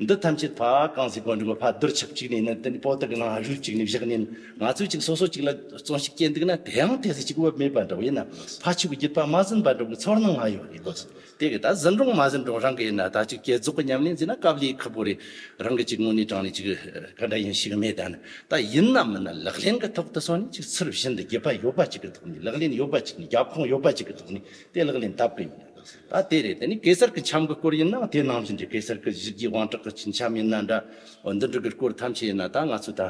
འདི་ཐམས་ཅད་ཕ་གང་ཟིག་པོ་འདུག་གོ་ཕ་རྡུལ་ཆབ་གཅིག་ནས་ནི་དེ་པོ་ཏི་གི་ནང་རུལ་གཅིག་ནས་བཞག་ནས་ང་ཚོས་ཅིག་སོ་སོ་ཅིག་ལ་བཙོན་ཞིག་སྐྱེལ་འདུག་ན་དེའང་དེ་ཟིག་ཅིག་བབ་མེད་པ་འདྲ་བོ་ཡིན་ན་ཕ་ཆོས་ཀྱི་རྒྱུད་པ་མ་ཟིན་པ་འདྲ་བོའི་ཚོར་སྣང་ང་ཡོད་རེད་གོ་དེ་གི་ད་ཟིན་རུང་མ་ཟིན་རུང་རང་གི་ཡིན་ན་ད་ཅིག་སྐྱེལ་རྫོགས་གི་ཉམས་ལེན་མཛད་ན་སྐབས་ལེགས་ཁག་པོ་རེད་རང་གི་ཅིག་དངོས་གནས་དྲང་ནས་ཅིག་ག་འདྲ་ཡིན་ཞིག་མེད་ད་ནི་ད་ཡིན་ན་མིན་ན་ལག་ལེན་གི་ཐོག་ཏུ་སོང་ནས་ཅིག་ཚུར་བཞིན་དུ་རྒྱུད་པ་ཡོད་པ་ཅིག་གི་ཐོག་ནས་ལག་ལེན་ཡོད་པ་ཅིག་ནས་རྒྱབ་ཁོངས་ཡོད་པ་ཅིག་གི་ཐོག་ནས་དེ་ལག་ལེན་བསྟར་གི་ཡོད་ད་དེ་རེད་དེ་ནི་གེ་སར་གྱི་ཆམ་གྱི་སྐོར་ཡིན་ན་དེ་ནང་བཞིན་གྱི་གེ་སར་གྱི་བཞི་བརྒྱའི་དབང་དྲག་གི་ཆམ་ཡིན་ན་འདྲ། འོ་འདི་འདྲ་གི་སྐོར་ཐམས་ཅད་ཡིན་ན་ད་ང་ཚོས་ད་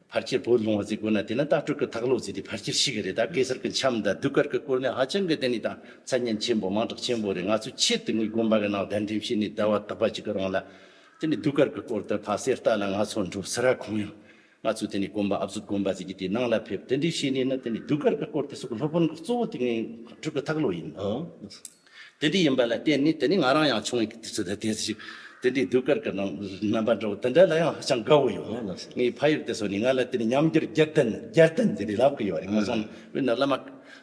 ཕར་ཁྱེར་བོད་ལུང་བ་ཟིག་དགོས་ན་དེ་ནི་ད་སྤྲུལ་སྐུ་དྭགས་ལོ་ཟིག་དེ་ཕར་ཁྱེར་ཞིག་རེད་ད་གེ་སར་གྱི་ཆམ་དང་གདུགས་དཀར་གྱི་སྐོར་ནི་ཧ་ཅང་གི་དེ་ནི་ད་མཚན་སྙན་ཆེན་པོ་མང་དྲག་ཆེན་པོ་རེད་ང་ཚོས་ཁྱེད་དེ་གཉིས་དགོན་པ་གི་ནང་གདན་འདྲེན་བྱས་ནས་བསྡད་བ་དག་པ་ཅིག་གི་རང་ལ་དེ་ནི་གདུགས་དཀར་གྱི་སྐོར་དེ་ཕ་གསེར་རྟ་ལ་ང་ཚོ་འགྲོ་ཟེར་ར་གང་ཡང་ང་ཚོས་དེ་ནས་གོམ་པ་ཨབ་ཟུག་གོམ་པ་བཟོས་ཀྱིས་དེ་ནང་ལ་ཕེབས་དེ་འདྲའི་བྱས་ནས་ནི་དེ་ནས་རྒྱུ་སྐར་གྱི་སྐོར་དེ་སོགས་ཀྱི་སློབ་དཔོན་གྱི་གཙོ་བོ་དེ་ངའི་དྲུག་གི་ཐག་ལོ་ཡིན། དེ་འདྲའི་ཡིན་པ་ལ་བརྟེན་ནས་དེ་ནས་ང་རང་ཡང་ཆུང་བའི་དུས་ཚོད་དུ་དེ་ཞིག་དེ་འདྲའི་རྒྱུ་སྐར་གྱི་ནང་རྣམ་པ་འདྲ་བོ་དེ་འདྲ་ལ་ཡང་ཧ་ཅང་དགའ་བོ་ཡོད། ངའི་ཕ་ཡུལ་དེ་སོགས་ནས་ང་ལ་དེ་ནས་ཉམས་འགྱུར་བརྒྱད་ལྡན་བརྒྱད་ལྡན་དེ་འདྲའི་ལབ་ཀྱི་ཡོད་རེད། ང་སོང་ནས་བོད་ནང་བླ་མ།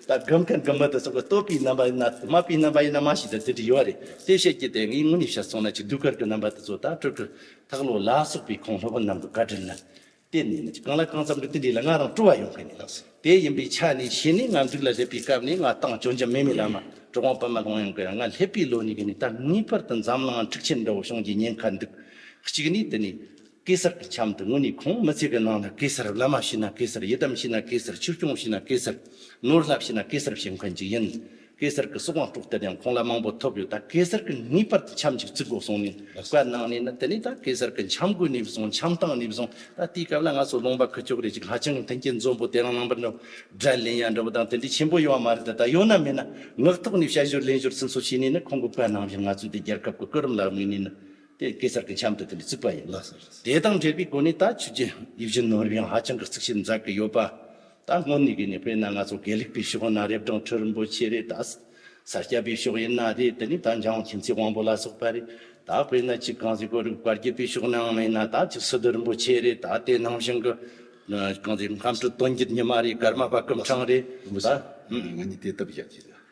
ད་སྒོམ་དང་སྒོམ་མེད་དུ་སོགས་པའི་རྟོག་པའི་རྣམ་པ་ཡིན་ན་དུ་མ་པའི་རྣམ་པ་ཡིན་ན་མ་ཞིག་དང་དེ་འདྲ་ཡོད་རེད་དེ་བཤད་ཀྱི་དེ་ངའི་དངོས་གནས་བཤད་སོང་ན་ཅིག་གདུགས་དཀར་གྱི་རྣམ་པ་དེ་ཚོ་ད་སྤྲུལ་སྐུ་དྷག་ལོ་ལ་སོགས་པའི་གོང་ལྷོ་བ་རྣམས་དང་བཀའ་དྲིན་ལ་བརྟེན་ནས་ཡིན་ཅིག་གང་ལ་གང་འཚམ་གྱི་དེ་འདྲའི་ལ་ང་རང་སྤྲོ་བ་ཡོང་གི་ཡིན་ལགས་སོ། དེ་ཡིན་པའི་ཆ་ནས་བྱས་ནས་ང་འདུག་ལ་སླེབས་པའི་སྐབས་ནས་ང་ཏང་ཅོ་འཇམ་མེ་མི་ལ་མ་གྲོགས་དབང་པ་མ་ལོང་ཡང་གི་ཡང་ང་སླེབས་པའི་ལོ་གཉིས་ཀྱི་ནས་ད་ངེས་པར་དུ་འཛམ་གླིང་འང་འཁྲུག་ཆེན་འདྲ་བོ་བྱུང་རྒྱུའི་ཉེན་ཁ་འདུག་གཅིག་ནས་དེ་ནས་གེ་སར་གྱི་ཁྱམས་དུ་དངོས་གནས་ཁོང་མི་ཚེ་གི་ནང་ལ་གེ་སར་བླ་མ་ཤི་ན་གེ་སར་ཡི་དམ་ཤི་ན་གེ་སར་ཆོས་སྐྱོང་ཤི་ན་གེ་སར་ནོར་བསླབ་ཤི་ན་གེ་སར་བྱེད་མཁན་ཅིག་ཡིན། གེ་སར་གྱི་གསོག་དབང་དཀྲོག་གཏད་ཡང་ཁོང་ལ་མང་པོ་ཐོབ་ཡོད་ད་གེ་སར་གྱིས་ངེས་པར་དུ་ཁྱམས་ཅིག་བརྩིག་དགོས་གསུངས་ནས་བཀའ་གནང་ནས་ནི་དེ་ནས་ད་གེ་སར་གྱི་ཁྱམས་བགོས་ནས་བཟུང་ཁྱམས་བཏང་ནས་བཟུང་ད་དེའི་སྐབས་ལ་ང་ཚོ་ལུང་པ་ཁུལ་ཕྱོགས་རེ་གཅིག་ཧ་ཅང་མཐུན་རྐྱེན་འཛོམས་པོ་དེ་རང་ནང་པར་ནི་དགྲ་ལན་ཡང་འདྲ་བོ་དང་དེ་འདྲའི་ཆེན་པོ་ཡོད་བ་མ་རེད་ད་ད་ཡོད་ན་མེད་ན་ངག་ཐོག་ནས་དཔྱད་བཞུར་ལན་བཞུར་སིམ་སོ་བྱས་ནས་ནི་ཁོང་གི་བཀའ་གནང་བཞིན་ང་ཚོས་དེ་རྒྱལ་ཁབ་ཀྱི་སྐུ་རིམ་ལ་དམིགས་ནས་ནི། དེ་གེ་སར་གྱི་འཆམ་དུ་དེ་འདྲ་བརྩིགས་པ་ཡིན། དེ་དང་འབྲེལ་བའི་སྒོ་ནས་ད་ཕྱི་རྒྱལ་ཡུལ་གཞན་ནང་རུ་ཡང་ཧ་ཅང་གི་རྩིག་བཤེར་མཛད་ཀྱི་ཡོད་པ། ད་སྔོན་ནས་གི་ནས་དཔེར་ན་ང་ཚོ་དགེ་ལུགས་པའི་ཕྱི་ཁོ་ན་རེབ་གྲོང་ཁྲི་རིན་པོ་ཆེ་རེད་ད། ས་སྐྱ་པའི་ཕྱོགས་ཡིན་ན་རེད་དེ་ནས་ད་འཇང་དབང་མཁྱེན་བརྩེ་དབང་པོ་ལ་སོགས་པ་རེད་ད་དཔེར་ན་ཅིག་གངས་རིའི་གོ་རིམ་བཀའ་རྒྱུད་པའི་ཕྱོགས་ནའང་མེད་ན་ད་ཅིག་སི་ཏུ་རིན་པོ་ཆེ་རེད་ད་དེ་ནང་བཞིན་གི། གངས་རིའི་ཁམས་ཁྲི་སྟོན་རྒྱུད་ཉི་མ་རེད་ཀརྨ་པ་སྐུ་འཕྲང་རེད་ད། རིན་པོ་ཆེ། ང་གཉིས་དེ་ལྟ་བུ་ཞིག་བྱེད་ཀྱི་ཡོད།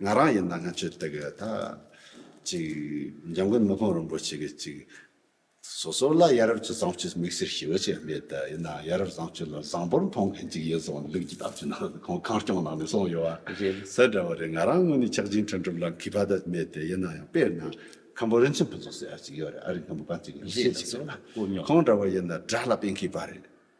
ང་རང་ཡིན་ན་སྔ་ཕྱིར་དེ་གའི་ད་ཅིག་འཇམ་མགོན་དམག་དཔོན་རིན་པོ་ཆེ་གིས་ཅིག་སོ་སོ་ལ་ཡ་རབས་ཀྱི་བཟང་སྤྱོད་དམིགས་བསལ་ཞི་བ་ཅན་མེད་དེ་ཡིན་ནའང་ཡ་རབས་བཟང་སྤྱོད་ལ་བཟང་པོར་མཐོང་མཁན་ཅིག་ཡོད་སོང་ལུགས་ཀྱི་དམ་ཚིག་ནང་དུ་ཁོང་ཁང་སྐྱོང་ནང་ནས་སོང་ཡོད་པ་གསལ་འདྲ་བོ་རེད་ང་རང་དངོས་ནས་ཆགས་འཇིག་འཕྲད་འགྲུབ་ལ་གུས་པ་ད་མེད་དེ་ཡིན་ནའང་དཔེར་ན་ཁམ་པོ་རིན་ཆེན་ཕུན་ཚོགས་ཟེར་བ་ཅིག་ཡོད་རེད་ཨ་རིའི་ཁམ་པོ་གངས་ཅན་གྱི་ཡངས་ཤེས་ཅིག་རེད་ལ་ཁོང་འདྲ་བོ་ཡིན་ན་དགྲ་ལ་དཔེ་མཁས་པ་རེད།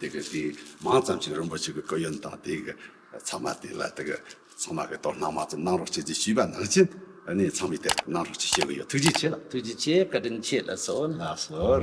དེ་གི་དེ་མང་ཙམ་ཞིག་རིན་པོ་ཆེ་གི་སྐུ་ཡོན་དང་དེ་གི་ཚང་མ་དེ་ལ་དེ་གི་ཚང་མ་གི་དོ་སྣང་མང་ཙམ་གནང་རོགས་བྱེད་ཅེས་ཞུས་པ་ནང་བཞིན་ནས་ཚང་མས་དེ་ལྟར་གནང་རོགས་ཞེས་བཤད་གི་ཡོད་ཐུགས་རྗེ་ཆེ་ལགས། ཐུགས་རྗེ་ཆེ་བཀའ་དྲིན་ཆེ་ལགས་སོ་ལགས་སོ།